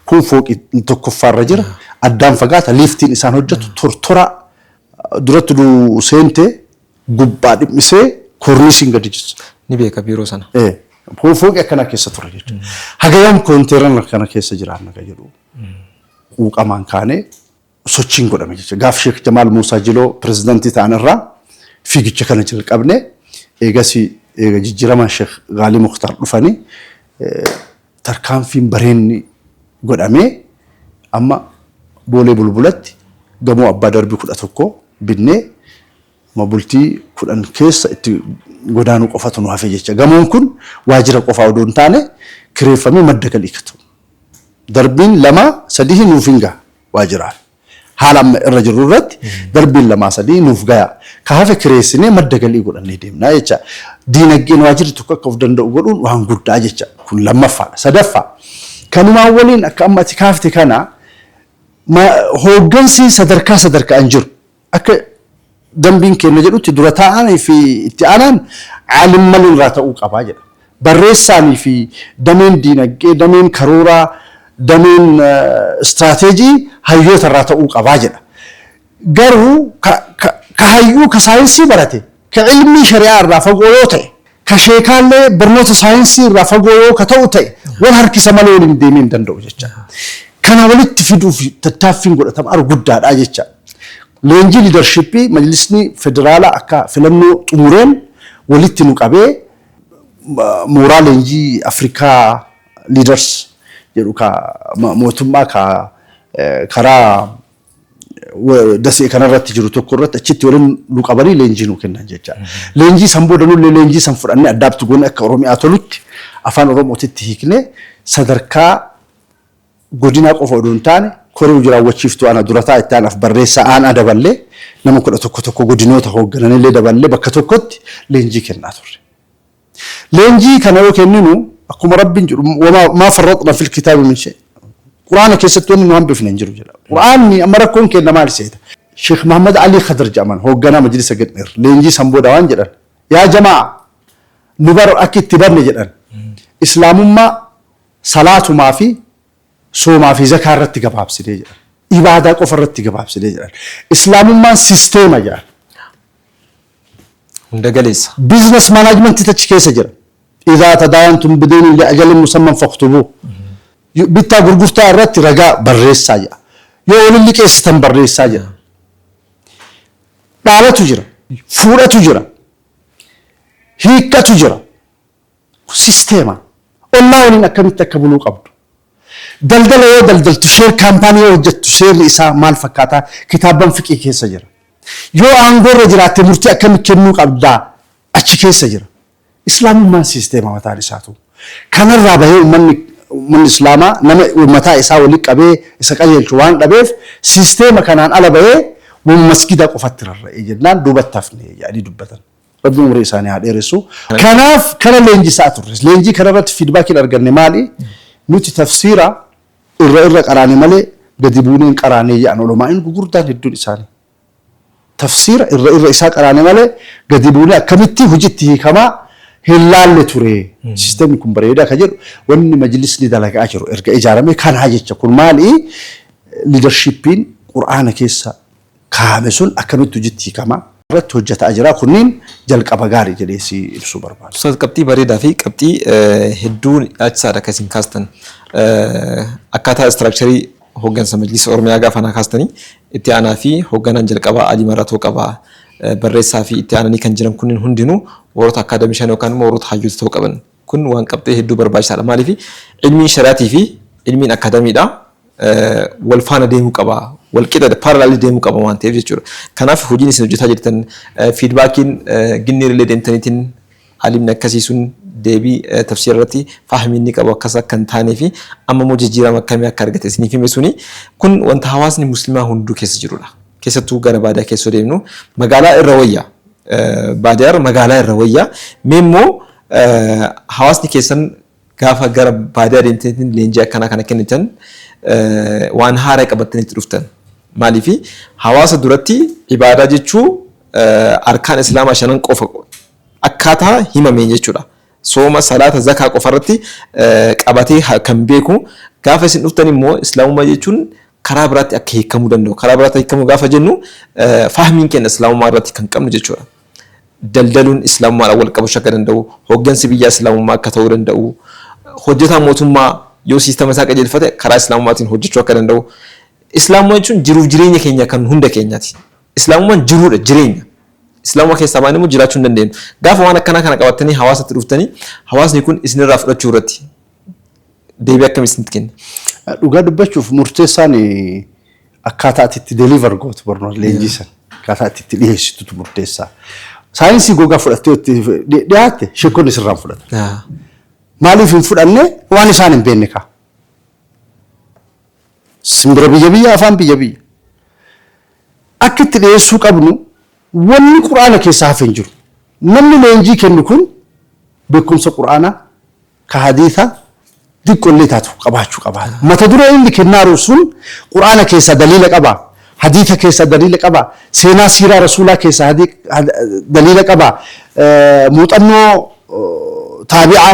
kun fooqii tokkoffaa irra jira, addaan fagaata, liiftiin isaan hojjetu tortora duratti nu seente gubbaa dhimmisee koorniisiin gadi jira. Ni beeka biiroo sana. Fooqii akkanaa keessa ture jechuudha. Haga yoom koonteerana kana keessa jiraanna kan jedhu quuqamaan kaanee sochiin godhame jecha gaaf Sheek Jamaal Muusaa Jiloo pirezidantii ta'an irraa fiigicha kana jalqabne eegasi eega jijjiiramaan Sheek Gaalii Muktaar dhufani tarkaanfiin bareenni godhamee amma boolee bulbulatti gamoo abbaa darbii kudha tokko binnee bultii kudhan keessa itti godaanuu qofatu nu hafe jecha gamoon kun waajjira qofaa odoo hin taane kireeffamee madda galii katu darbiin lama sadii nuuf hin gaha waajjiraaf. Haala amma irra jirru irratti darbiin lamaa sadii nuuf gayaa. Ka hafe kireessinee madda galii godhannee deemna jecha. Diinagdeen waajjirri tokko akka of danda'u godhuun waan guddaa jecha. Kun lammaffaadha. Sadaffaa kanumaan waliin akka amma ati kaafte kana hooggansi sadarkaa sadarkaan jiru Akka dambiin keenna jedhutti dura taa'aan fi itti aanaan aalimmaleen irraa ta'uu qaba jedha. Barreessaan fi dameen diinagdee, dameen karooraa, dameen istiraateejii hayyoota irraa ta'uu qaba jedha. Garuu ka hayyuu ka saayinsii barate Ka ilmii shari'aa irraa fagoo yoo ta'e, ka sheekaallee barnoota saayinsii irraa fagoo yoo ka ta'u ta'e, wal harkisa malee waliin deemee hin danda'u jecha. Kana walitti fiduuf tattaaffiin godhatamu aru guddaadha jecha. Leenjii liidarshippii majlisni federaalaa akka filannoo xumureen walitti nu qabee mooraa leenjii Africa Leaders jedhu ka mootummaa ka karaa Dasee kanarratti jiru tokko irratti achitti waliin nu qabanii leenjii nu kennan jecha. Leenjii san booda nullee leenjii san fudhannee addaabti goone akka Oromiyaa tolutti afaan Oromootitti hiiknee sadarkaa godinaa qofa odoo hin taane koree hojii raawwachiiftuu ana durataa itti aanaaf barreessaa aanaa daballee nama kudha tokko tokko godinoota hooggananillee daballee bakka tokkotti leenjii kennaa turre. Leenjii kana yoo kenninu akkuma Rabbiin jedhu wamaa maa farraxna fil kitaabi min shay. Quraana keessatti wanni nu hambifne hin jiru jedha. Quraanni amma rakkoon kenna maal seeta? Sheekh Mahammad Alii Khadar jedhaman hoogganaa majlisa Gidhir leenjii san booda waan jedhan yaa jamaa nu bar akka itti banne jedhan islaamummaa salaatumaa fi soomaa fi zakaa irratti gabaabsinee jedhan ibaadaa qofa irratti gabaabsinee jedhan islaamummaan sisteema jedhan Hunda galeessa. Business management achi keessa jira. Idhaa tadaayantum bideynin li'ajalin musamman faktubuu. Bittaa gurgurtaa irratti ragaa barreessaa jedha. Yoo waliin liqeessitan barreessaa jedha. Dhaalatu jira. Fuudhatu jira. Hiikkatu jira. sisteema, ollaa waliin akkamitti akka buluu qabdu, daldala yoo daldaltu, share company yoo hojjattu seerri isaa maal fakkaata kitaabban fiqhii keessa jira. Yoo aangoo irra jiraatte murtii akkami kennuu qabda achi keessa jira. Islaamummaan sisteema mataan isaatu. Kanarraa bahee ummanni ummanni islaamaa nama mataa isaa wali qabee isa qajeelchu waan dhabeef sisteema kanaan ala bahee masgiida qofatti rarra'ee jennaan duubatti hafne jedhanii dubbatan. Rabbi umurii isaanii haa dheeressu. Kanaaf kana leenjisaa turre. Leenjii kana irratti fiidbaakiin arganne maali? Nuti tafsiira irra irra qaraane malee gadi buunee hin qaraanee jedhan ulamaa'in gugurdaan hedduun isaanii. Tafsiira irra irra isaa qaraane malee gadi buunee akkamitti hojiitti hiikamaa hin laalle ture. Siistemni kun bareedaa kan jedhu wanni majlisni dalagaa jiru erga ijaarame kanaa jecha kun maali? Liidarshiippiin Qur'aana keessa kaa'ame sun akkamitti hojitti hiikama? irratti hojjata'a jira. Kunniin jalqaba gaari jedhee si ibsuu barbaada. Ustaaz qabxii bareedaa fi qabxii hedduu nyaachisaadha akka isin kaastan. Akkaataa istiraakcharii hooggansa majlisa Oromiyaa gaafa naa kaastanii itti aanaa fi hoogganaan jalqabaa Alii Maratoo qaba. Barreessaa fi itti aananii kan jiran kunniin hundinuu warroota akkaadamishan yookaan immoo warroota hayyoota ta'uu qaban. Kun waan qabxee hedduu barbaachisaadha. Maaliif ilmiin shari'aatii fi ilmiin akkaadamiidhaa wal faana deemuu qaba. Wal qixa parallel deemuu qaba waan ta'eef jechuudha. Kanaaf hojiin isin hojjetaa jirtan fiidbaakiin ginnii irra deemtaniitiin alimni akkasii sun deebii tafsiira irratti fahmii inni qabu akkas akka hin taanee fi amma immoo jijjiirama akkamii akka argate isiniif hime suni kun wanta hawaasni muslimaa hunduu keessa jirudha. Keessattuu gara baadiyaa keessa yoo deemnu magaalaa irra wayya. Baadiyaa irra magaalaa irra wayya. Mee immoo hawaasni keessan gaafa gara baadiyaa deemtaniitiin leenjii akkanaa kana kennitan waan haaraa qabattanii itti dhuftan. Maaliif hawaasa duratti ibaadaa jechuu arkaan islaamaa shanan qofa akkaataa himameen jechuudha. sooma, salaata, zakaa qofa irratti qabatee kan beeku. Gaafa isin dhuftan immoo islaamummaa jechuun karaa biraatti akka hiikamuu danda'u. Karaa biraatti hiikamuu gaafa jennu fahmiin keenya islaamummaa irratti kan qabnu jechuudha. Daldaluun islaamummaadhaan wal qabachuu akka danda'u, hooggansi biyyaa islaamummaa akka ta'uu danda'u, hojjetaa mootummaa yoo siistama isaa qajeelfate karaa islaamummaatiin hojjechuu akka danda'u. Islaamummaa jechuun jiruuf jireenya keenya kan hunda keenyaati. Islaamummaan jiruudha, jireenya. Islaamuma keessaa baanee immoo jiraachuu hin dandeenyu. Gaafa waan akkanaa kana qabattanii hawaasatti dhuftanii hawaasni kun isinirraa fudhachuu irratti deebii akkamii isinitti kenni? Dhugaa dubbachuuf murteessaan akkaataa ati itti deliver gootu barnoota leenjii sana akkaataa ati itti dhiyeessitutu murteessaa. Saayinsii gogaa fudhattee itti dhiyaatte sheekonni sirraan fudhatan. Maaliif hin fudhanne waan isaan hin beekne kaa. Simbira biyya biyya afaan biyya biyya. Akka itti dhiyeessuu qabnu wanni Qur'aana keessaa hafe hin jiru. Namni leenjii kennu kun beekumsa Qur'aanaa ka hadiisaa diqqollee taatu qabaachuu qaba. Mata duree inni kennaaru sun Qur'aana keessaa daliila qabaa? Hadiisa keessaa daliila qabaa? Seenaa siiraa Rasuulaa keessaa daliila qabaa? Muuxannoo taabi'aa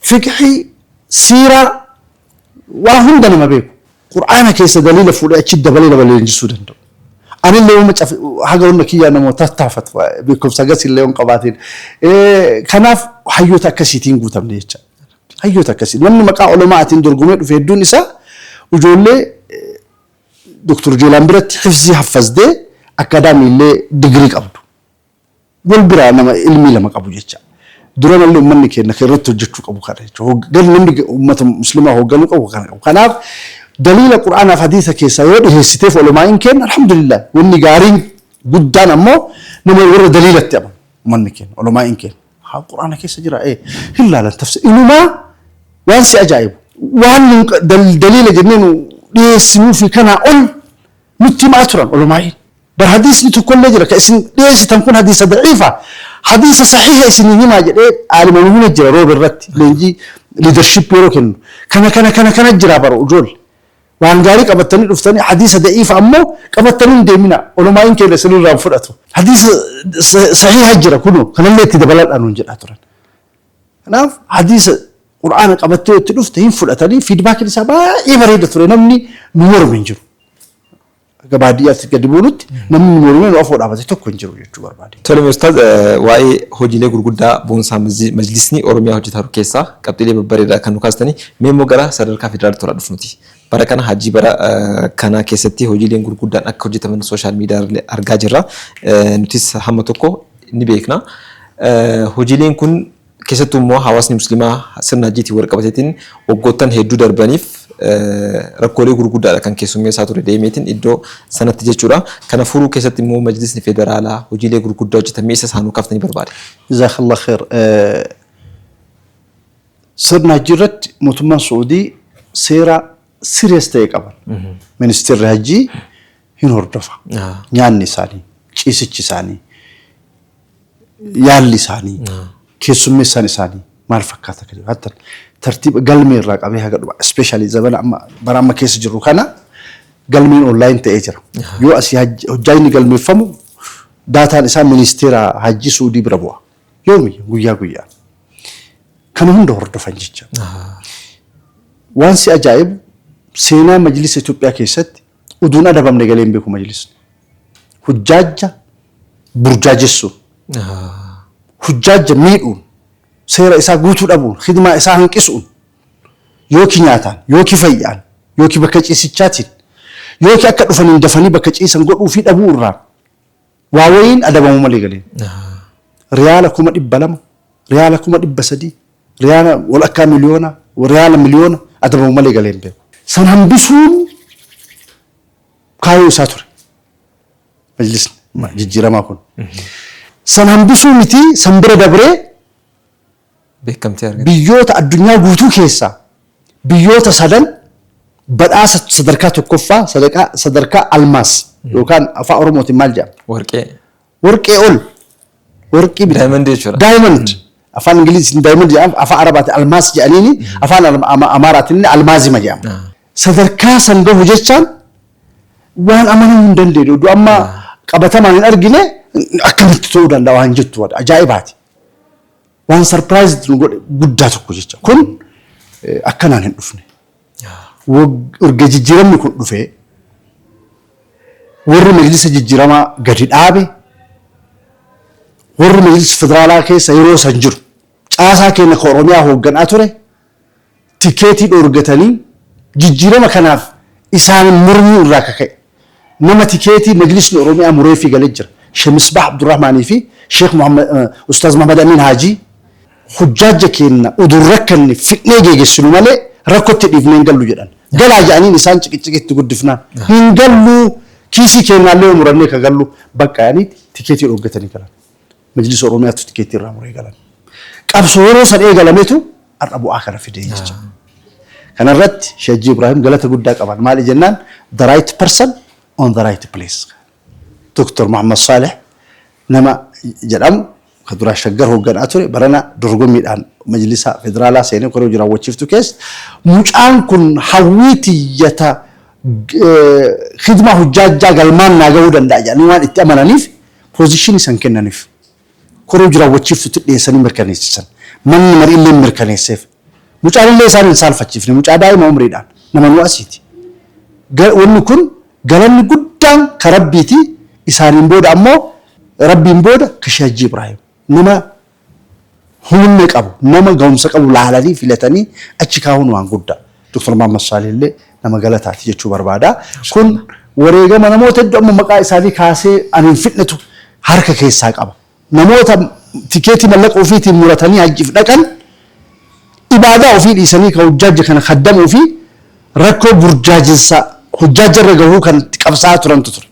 fiqhii, siiraa, waa hunda nama beeku. Qur'aana keessa daliila fuudhee achi dabalee nama leenjisuu danda'u. Anillee yooma caf haga hunda kiyyaa nama tattaafatu beekumsa gasillee yoon qabaatiin. Kanaaf hayyoota akkasiitiin guutamne jecha. Hayyoota akkasii namni maqaa oloma'aatiin dorgomee dhufe hedduun isaa ijoollee Dr. Jeelaan biratti hifzii haffazdee akkaadaamiillee digirii qabdu. Wal biraa nama ilmii lama qabu jecha. Duramalle ummanni keenna ka irratti hojjachuu qabu kana jechu. Hoggan namni ummata muslimaa hogganuu qabu kana qabu. Kanaaf daliila qur'aanaaf hadiisa keessaa yoo dhiheessiteef olomaa'iin keenna alhamdulillah wanni gaariin guddaan ammoo nama warra daliilatti amanu ummanni keenna olomaa'iin keenna. Haa qur'aana keessa jira ee hin laalan tafsi inumaa waan si ajaa'ibu. Waan nun daliila jennee nu dhiheessinuufii kanaa ol Nutti himaa turan ulamaa'iin. Bar hadiisni tokkollee jira ka isin dhiyeessitan kun hadiisa da'iifa hadiisa sahiiha isinii himaa jedhee aalima nu hime jira roobe irratti leenjii leadership yeroo kennu kana kana kana kana jira bar ujoolle waan gaarii qabattanii dhuftanii hadiisa da'iifa ammoo qabattanii hin deeminaa ulamaa'iin keenya isin irraa hin fudhatu hadiisa sahiiha jira kunoo kanallee itti dabaladhaa nuun jedhaa turan Kanaaf hadiisa qur'aana qabattee itti dhufte hin fudhatanii fiidbaakiin isaa baay'ee bareeda ture namni nu morme hin jiru. Akka baadiyyaatti gadi buunutti namni nu morme nu afoo dhaabate tokko hin jiru jechuu barbaade. Tole Ustaaz waa'ee hojiilee gurguddaa boonsaa majlisni Oromiyaa hojjetaa jiru keessaa qabxiilee babbareedaa kan nu kaastanii mee immoo gara sadarkaa federaalaatti tola dhufnuti. Bara kana hajjii bara kanaa keessatti hojiileen gurguddaan akka hojjetaman sooshaal miidiyaarra argaa jirra. Nutis hamma tokko ni beekna. Hojiileen kun keessattuu immoo hawaasni musliimaa sirna hajjiitiin wal qabateetiin waggoottan hedduu darbaniif rakkoolee gurguddaadha kan keessummeessaa ture deemeetiin iddoo sanatti jechuudha. Kana furuu keessatti immoo majlisni federaalaa hojiilee gurguddaa hojjetan mee isas haa nuu kaaftanii barbaade. Jazaakallaahu kheer. Sirna hajjii irratti mootummaan Su'uudii seera serious ta'e qaban. Ministeerri hajjii hin hordofa. Ah. Nyaanni isaanii, ciisichi isaanii, yaalli isaanii, keessummeessaan isaanii maal fakkaata kan jedhu. Hatta tartiiba galmee irraa qabee haga dhuma especially zabana amma bara amma keessa jirru kana galmeen online ta'ee jira. Yoo asii hajji- hojjaa inni galmeeffamu daataan isaa ministeera hajjii Su'uudii bira bu'a. Yoomi guyyaa guyyaan. Kana hunda hordofan jecha. Waan si ajaa'ibu seenaa majlisa Itoophiyaa keessatti uduun adabamne galee hin beeku majlisni. Hujjaajja burjaajessuun, hujjaajja miidhuun, seera isaa guutuu dhabuun, hidimaa isaa hanqisuun, yookiin nyaataan, yookiin fayyaan, yookiin bakka ciisichaatiin, yookiin akka dhufaniin dafanii bakka ciisan godhuu fi dhabuu irraan Waa wayiin adabamuu malee galeen. Riyaala kuma dhibba lama, riyaala kuma dhibba sadii, riyaala walakkaa miliyoona, riyaala miliyoona adabamu malee galee hin beeku. San hambisuun kaayoo isaa ture. Majlisni jijjiiramaa kun. San hambisuu miti san bira dabree beekamtii argate. Biyyoota addunyaa guutuu keessaa biyyoota sadan badhaasa sadarkaa tokkoffaa sadaqaa sadarkaa almaas yookaan afaa oromootiin maal jedhama? Warqee. Warqee ol warqii miti. Diamond jechuudha. Diamond. Afaan Ingiliziitiin diamond jedhama afaan Arabaatiin almaas jedhaniini afaan Al- Ama- Amaaraatiin illee almaazima jedhama. Ah. Sadarkaa san gahu jechaan waan amanamuu hin dandeenye oduu amma qabatamaan hin argine akkamitti ta'uu danda'a waan jettu wada ajaa'ibaati. Waan surprised nu godhe guddaa tokko jecha. Kun eh, akkanaan hin dhufne. Wag- Erga jijjiiramni kun dhufee warri majlisa jijjiiramaa gadi dhaabe warri majlisa federaalaa keessa yeroo san jiru caasaa keenya ka Oromiyaa hoogganaa ture tikeetii dhoorgatanii jijjiirama kanaaf isaanin mormuu irraa ka ka'e nama tikeetii Majlisni Oromiyaa mureefii gale jira. Sheh Misbaah Abdurrahmaanii fi Sheikh Ustaaz Muhammad Amiin Haajii. Hujjaajja keenna udu hin rakkanne fidhnee geegessinu malee rakkotti dhiifnee hin gallu jedhan. Galaa ja'aniin isaan ciqiciqi itti guddifnaan hin gallu kiisii keennaallee yoo murannee ka gallu baqqa ja'anii tikeetii dhooggatanii galan. Majlisa Oromiyaattu tikeettii irraa muree galan. Qabsoo yeroo san eegalametu har'a bu'aa kana fidee jecha. Kana irratti Sheikh Hajji Ibrahim galata guddaa qaban. Maali jennaan the right person on the right place. Dr. Muhammad Saleh nama jedhamu ka duraa shaggar hoogganaa ture barana dorgommiidhaan majlisa federaalaa seenee koree hojii raawwachiiftu keessa mucaan kun hawwii tiyyata khidmaa hojjaajjaa galmaan naa gahuu danda'a jedhanii waan itti amananiif position isan kennanif koree hojii raawwachiiftutti dhiyeessanii mirkaneessisan. Manni mariilleen mirkaneesseef. Mucaanillee isaan hin saalfachiifne. Mucaa daa'ima umriidhaan. Nama nu asiiti. Ga, wanni kun galanni guddaan ka Rabbiiti. Isaaniin booda ammoo Rabbiin booda ka Sheikh Hajjii Ibraahim. Nama humna qabu, nama gahumsa qabu laalanii filatanii achi kaa'uun waan guddaa. Doktar Mahammad Saalih illee nama galataati jechuu barbaada. Kun wareegama namoota hedduu amma maqaa isaanii kaasee ani hin fidnetu harka keessaa qaba. Namoota tikeetii mallaqa ofiitiin muratanii hajjiif dhaqan ibaadaa ofii dhiisanii ka hujjaajja kana kaddamuu fi rakkoo burjaajinsa hujjaajja irra gahuu kan itti qabsaa'aa turantu ture.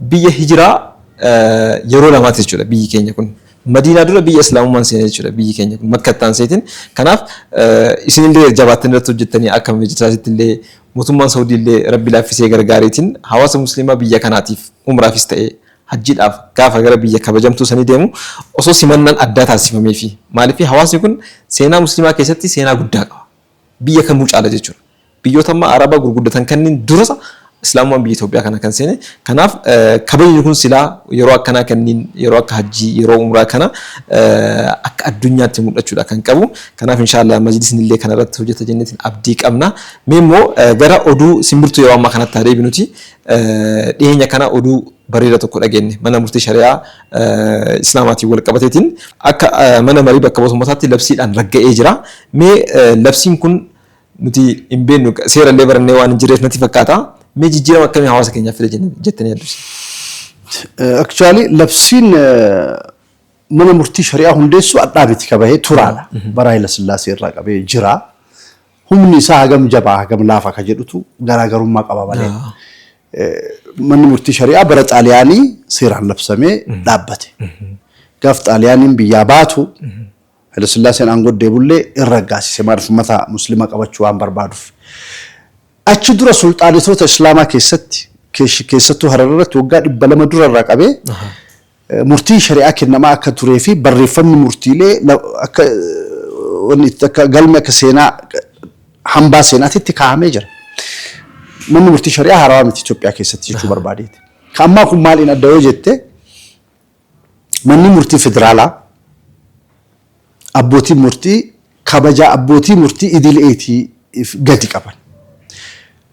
Biyya hijiraa yeroo lamaati jechuudha biyyi keenya kun. Madiinaa dura biyya islaamummaan seene jechuudha biyyi keenya kun makka itti aanseetiin. Kanaaf isinillee jabaattanii irratti hojjettanii akka majisaasittillee mootummaan sawudiillee rabbi laaffisee gargaareetiin hawaasa musliimaa biyya kanaatiif umraafis ta'e hajjiidhaaf gaafa gara biyya kabajamtuu sanii deemu osoo simannaan addaa taasifameefii. Maaliif hawaasni kun seenaa musliimaa keessatti seenaa guddaa qaba. biyya kamuu caala jechuudha. Biyyoota amma Araba gurguddatan kanniin durasa Islaamummaan biyya Itoophiyaa kana kan seene. Kanaaf kabajni kun silaa yeroo akkanaa kanniin yeroo akka hajjii, yeroo umraa kana akka addunyaatti mul'achuudha kan qabu. Kanaaf inshaa Allaah majlisni illee kana irratti hojjata jenneetiin abdii qabna. Mee immoo gara oduu simbirtuu yeroo ammaa kanatti haa deebinuti. Dhiheenya kana oduu. bareeda tokko dhageenne. Mana murtii shari'aa Islaamaatiin wal qabateetiin akka mana marii bakka bu'oota ummataatti labsiidhaan ragga'ee jira. Mee labsiin kun nuti hin beeknu seera illee barannee waan hin jirreef natti fakkaata. Mee jijjiirama akkamii hawaasa keenyaaf fide jenne- jettanii yaaddu isin? Aktuwaali labsiin eh, mana murtii shari'aa hundeessu adhaa miti kabahee turaadha. Bara Hayila Sillaasee irraa qabee jira. Humni isaa hagam jabaa hagam laafa ka jedhutu garaagarummaa qaba malee. Manni murtii shari'aa bara Xaaliyaanii seeraan labsamee dhaabbate. Gaaf Xaaliyaaniin biyyaa baatu Hayilasillaaseen aangoo deebullee in raggaasise maaliif ummata muslima qabachuu waan barbaaduuf. Achi dura sulxaanetoota Islaamaa keessatti keessattuu Harar irratti waggaa dhibba lama dura irraa qabee murtiin shari'aa kennamaa akka turee fi barreeffamni murtiilee akka wanni itti akka galme akka seenaa hambaa seenaatitti kaa'amee jira. Manni murtii shari'aa haarawaa miti Itoophiyaa keessatti jechuu barbaadeeti. Ka ammaa kun maaliin adda yoo jette manni murtii federaalaa abbootiin murtii kabajaa abbootii murtii idileetii gadi qaban.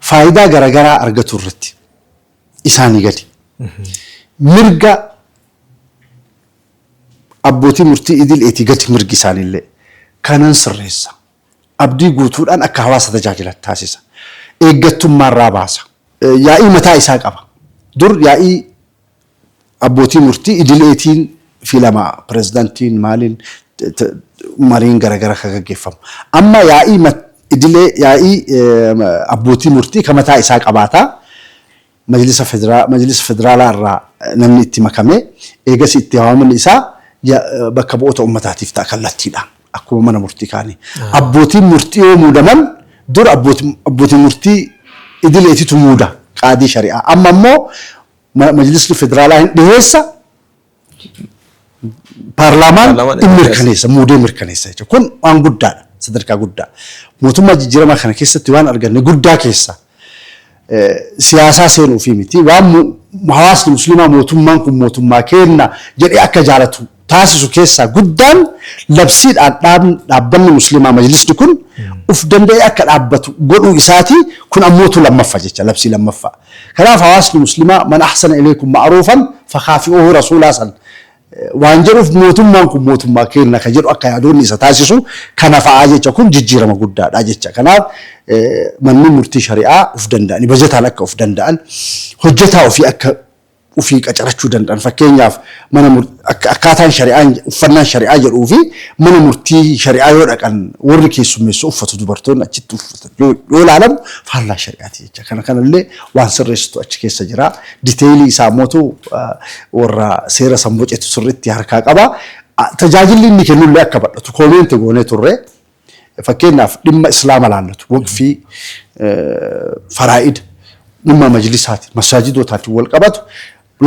Faayidaa garaagaraa argatu irratti. isaanii gadi. Mirga abbootii murtii idileetii gadi mirgi isaaniillee. Kanan sirreessa. Abdii guutuudhaan akka hawaasa tajaajilan taasisa. Eeggattummaarraa baasa. Yaa'ii mataa isaa qaba. Dur yaa'ii Abbootii murtii idileetiin filama pirezidantiin maaliin mariin garagara ka gaggeeffamu. Amma yaa'ii idilee yaa'ii abbootii murtii ka mataa isaa qabaata. Majlisa Federaalaa irraa namni itti makame. Eegasii itti waamaman isaa bakka bu'oota ummataatiif ta'a kallattiidhaan akkuma mana murtii kaanii. Abbootiin murtii yoo muudaman dur abbootii murtii idileetitu muuda qaadii shari'aa. Amma immoo Majlisni federaalaa hin dhiheessa. Paarlaamaan Paarlaamaan hin hin mirkaneessa, muudee mirkaneessa jechuudha. Kun waan guddaadha, sadarkaa guddaa. Mootummaa jijjiiramaa kana keessatti waan arganne guddaa keessa eh, siyaasaa seenuu fi miti waan mu- hawaasni musliimaa mootummaan kun mootummaa keenna jedhee akka jaalatu taasisu keessaa guddaan labsiidhaan dhaabn dhaabbanni muslimaa majlisni kun uf danda'ee akka dhaabbatu godhuu isaatii kun ammootu lammaffa jecha labsii lammaffaa kanaaf hawaasni muslimaa man ahsana ilaykum ma'ruufan fakaafi'uhu rasuulaa san waan jedhuuf mootummaan kun mootummaa keenna ka jedhu akka yaadoonni isa taasisu kana fa'aa jecha kun jijjiirama guddaadha jecha kanaaf manni murtii shari'aa uf danda'ani bajataan akka uf danda'an hojjetaa ofii akka ufii qacarachuu danda'an fakkeenyaaf mana murtii akkaataan shari'aan uffannaan shari'aa jedhuu fi mana murtii shari'aa yoo dhaqan warri keessummeessu uffatu dubartoonni achitti uffatan yoo yoo ilaalamu faallaa shari'aati jecha kana kanallee waan sirreessitu achi keessa jira diteeyilii isaa mootu warra seera san bocetu sirriitti harkaa qaba tajaajilli inni kennullee akka badhatu koomeenti goonee turre Fakkeenyaaf dhimma Islaama laallatu, waqfii, faraa'ida, dhimma majlisaatiin, masaajidootaatiin wal qabatu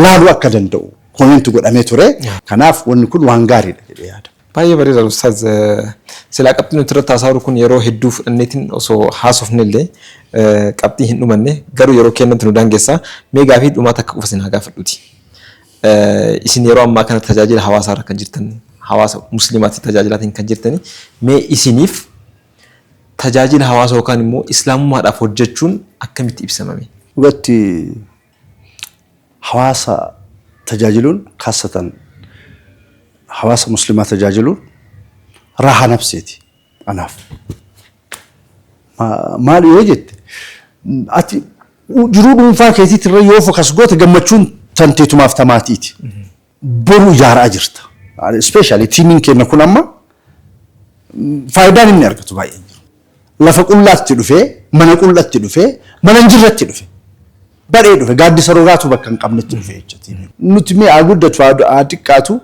laaluu akka danda'u pooyinti godhamee ture. Kanaaf wanni kun waan gaariidha jedhee yaada. Baay'ee bareeda Ustaaz. Silaa qabxii nuti irratti haasa'aa kun yeroo hedduu fudhanneetiin osoo haasofne illee qabxii hin dhumanne garuu yeroo keenyatti nu daangessaa mee gaafii dhumaa takka qofa isin haa gaafadhuuti. Isin yeroo ammaa kana tajaajila hawaasaa irra kan jirtan, hawaasa musliimaatiif tajaajilaatiin kan jirtani. Mee isiniif tajaajila hawaasa yookaan immoo islaamummaadhaaf hojjechuun akkamitti ibsama mee? Dhugatti hawaasa tajaajiluun kaassatan hawaasa musliimaa tajaajiluun raahaa nafseeti anaaf. Maal yoo jette ati jiruu dhuunfaa keetiitti irra yoo fokas goote gammachuun tanteetumaaf tamaatiiti. Boru ijaaraa jirta. Ispeeshaalii tiimiin keenya kun amma faayidaan inni argatu baay'een jiru. Lafa qullaatti dhufee, mana qullatti dhufee, mana hin jirretti dhufe. Badhee dhufe, gaaddisa rogaatu bakka hin qabnetti dhufe jecha tiimiin. Nuti mee haa guddatu haa xiqqaatu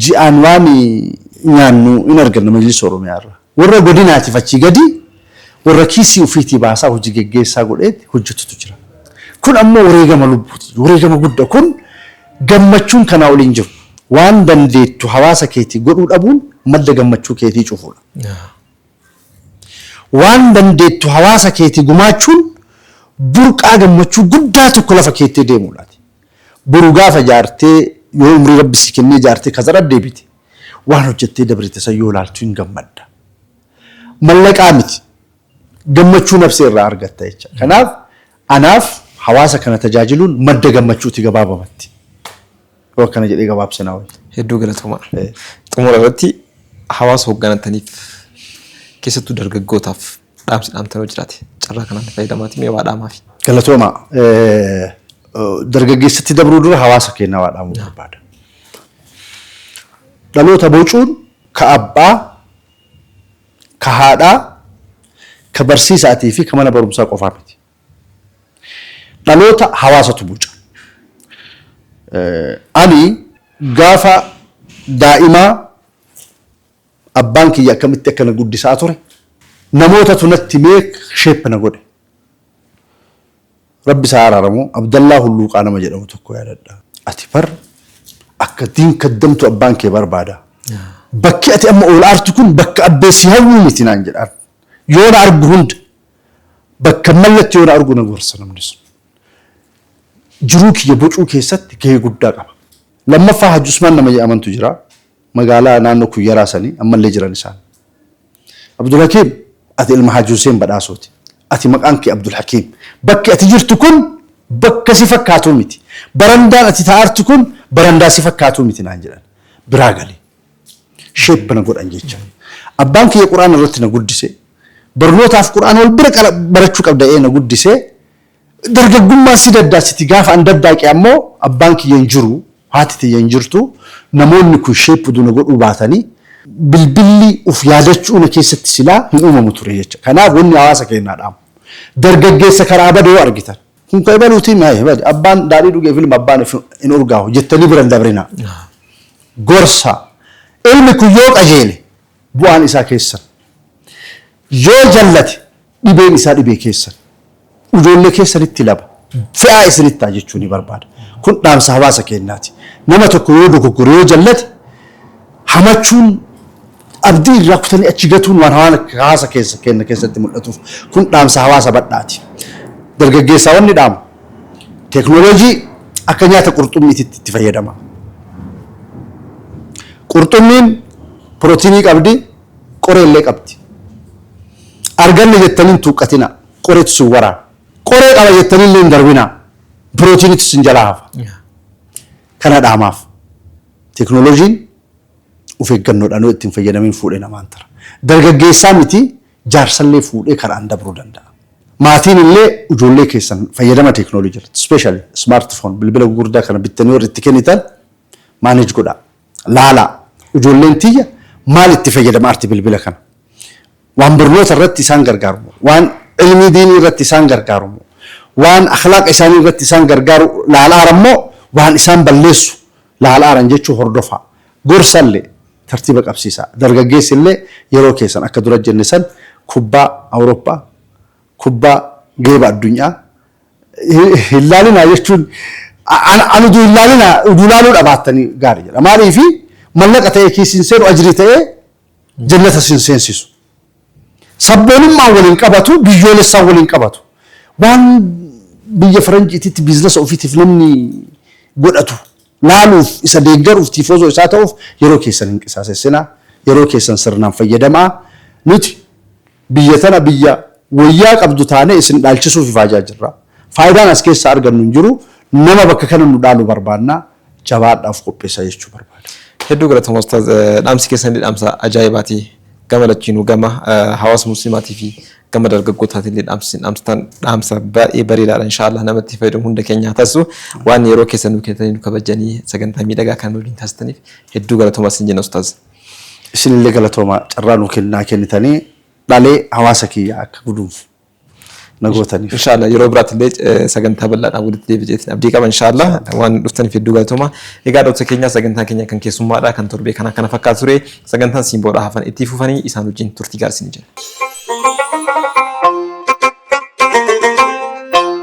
ji'aan waan nyaannu hin arganna Majlisa Oromiyaa irraa. Warra godinaatiif achii gadi warra kiisii ufiitii baasaa hojii geggeessaa godheeti hojjatutu jira. Kun ammoo wareegama lubbuuti. Wareegama gudda kun gammachuun kanaa oli hin jiru. Waan dandeettu hawaasa keetii godhuu dhabuun madda gammachuu keetii cufuudha. Waan dandeettu hawaasa keetii gumaachuun burqaa gammachuu guddaa tokko lafa keettee deemuudhaati. Boru gaafa jaartee yoo umrii rabbi sii kennee jaartee kazara deebite waan hojjattee dabrite san yoo laaltu hin gammadda. Mallaqaa miti gammachuu nabsee irraa argatta jecha. Kanaaf anaaf hawaasa kana tajaajiluun madda gammachuuti gabaabamatti. Yoo akkana jedhee gabaabse naa wayya. Hedduu galatoomaa. Xumura irratti hawaasa hogganattaniif keessattuu dargaggootaaf Dhaamsi dhaamtan yoo jiraate carraa kanaan fayyadamaatii mee waa dhaamaafi. Galatooma. Dargaggeessatti dabruu dura hawaasa keenya waa dhaamuu barbaada. Dhaloota bocuun ka abbaa, ka haadhaa, ka barsiisaatii fi ka mana barumsaa qofaa miti. Dhaloota hawaasatu boca. Ani gaafa daa'imaa Abbaan kiyya akkamitti akka na guddisaa ture namootatu natti himee shape na godhe. Rabbi isaa araaramu Abdallaa Hulluuqaa nama jedhamu tokko yaadadha. Ati bar akka diin kaddamtu abbaan kee barbaada. Bakki ati amma ol aartu kun bakka abbee si hawwuu miti naan jedhaan. Yoo na argu hunda bakka mallatti yoo na argu na gorsa namni sun. Jiruu kiyya bocuu keessatti gahee guddaa qaba. Lammaffaa Hajji Usmaan nama jedhamantu jira. Magaalaa naannoo Kuyyaraa sanii ammallee jiran isaan. Abdulhakiim ati ilma Haaji Huseen Badhaasooti. Ati maqaan kee Abdulhakiim. Bakki ati jirtu kun bakka si fakkaatu miti. Barandaan ati taa'artu kun barandaa si fakkaatu miti naan jedhan. Biraa gali. Shape na godhan jecha. Abbaan kiyya Qur'aana irratti na guddise. Barnootaaf Qur'aana wal bira qara- barachuu qabda ee na guddisee Dargaggummaan si daddaasiti gaafa an daddaaqe ammoo abbaan kiyya hin jiru, haati tiyya hin jirtu, namoonni kun shaped na godhuu baatanii bilbilli uf yaadachuu na keessatti silaa hin uumamu ture jecha. Kanaaf wanni hawaasa keennaa dhaamu. Dargaggeessa karaa bade yoo argitan. Kun ka ibaluutii mi ayi badi abbaan daadhii dhugeef ilma abbaan if hin urgaawu jettanii bira hin dabrinaa. Gorsa. Ilmi kun yoo qajeele. Bu'aan isaa keessan. Yoo jallate dhibeen isaa dhibee keessan. Ujoollee keessanitti laba fe'aa isinitti ta'a jechuu ni barbaada. Kun dhaamsa hawaasa keenyaati. Nama tokko yoo dogoggore yoo jallate hamachuun abdii irraa kutanii achi gatuun waan hawaasa keessa keenya keessatti mul'atuuf kun dhaamsa hawaasa badhaati. Dargaggeessaa wanni dhaamu teeknooloojii akka nyaata qurxummiititti itti fayyadama. Qurxummiin Pirootinii qabdi, qoree illee qabdi. Arganne jettanii hin tuuqqatinaa. Qoreetu sin waraana. Qoree qaba jettanii illee hin darbinaa. Pirootiiniitu sin jalaa hafa. Kana dhaamaaf. Teeknooloojiin of eeggannoodhaan yoo itti hin fayyadamiin fuudhee namaan tara. Dargaggeessaa miti jaarsallee fuudhee karaan dabruu danda'a. Maatiin illee ijoollee keessan fayyadama teeknooloojii irratti, especially smartphone, bilbila gugurdaa kana bittanii warri itti kennitan manage godhaa. Laalaa, ijoolleen tiyya maal itti fayyadama arti bilbila kana? Waan barnoota irratti isaan gargaaru moo? Waan ilmii diinii irratti isaan gargaaru moo? Waan akhlaaqa isaanii irratti isaan gargaaru laalaaran moo waan isaan balleessu laalaaran jechuu hordofaa. Gorsallee tartiiba qabsiisaa. Dargaggeessi illee yeroo keessan akka dura jenne san kubbaa Awurooppaa, kubbaa geeba addunyaa, hin laalinaa jechuun an udu hin laalinaa udu laaluu dhabaattanii gaari jedha maaliifi mallaqa ta'ee kiisiin seenu ajrii ta'ee jannata sin seensisu sabboonummaan waliin qabatu biyyoolessaan waliin qabatu waan biyya faranjiititti biiznasa ofiitiif namni godhatu laaluuf isa deeggaruuf tiifoozoo isaa ta'uuf yeroo keessan hin qisaasessinaa yeroo keessan sirnaan fayyadamaa nuti Biyya tana biyya woyyaa qabdu taanee isin dhaalchisuuf ifaajaa jirra. Faayidaan as keessaa argannu hin jiru. Nama bakka kana nu dhaalu barbaanna. Jabaadhaa of qopheessaa jechuu barbaada. Hedduu galatoma ustaaz dhaamsi keessan illee dhaamsa ajaa'ibaati gama lachiinuu gama hawaasa muslimaatii fi gama dargaggootaatiin illee dhaamsi isin dhaamsitan dhaamsa baay'ee bareedaadha inshaallah namatti fayyadamu hunda keenyaa taasisu waan yeroo keessan nu kennitanii nu kabajanii sagantaa miidhagaa kan waliin taasisaniif hedduu galatoma isin jenna ustaaz. Isinillee galatoomaa carraa nuu kennaa kennitanii dhalee hawaasa kiyyaa akka gudunfu na gootaniif. Inshaallah yeroo biraatillee eh, sagantaa bal'aadhaan walitti deebi'eetiin abdii qaba inshaallah waan dhuftaniif hedduu galatooma. Egaa dhaloota keenyaa sagantaan keenya kan keessummaadha kan torbee kanaa kana fakkaatu ture sagantaan simboodhaa hafan itti fufanii isaan wajjin turtii gaarii isin jenna.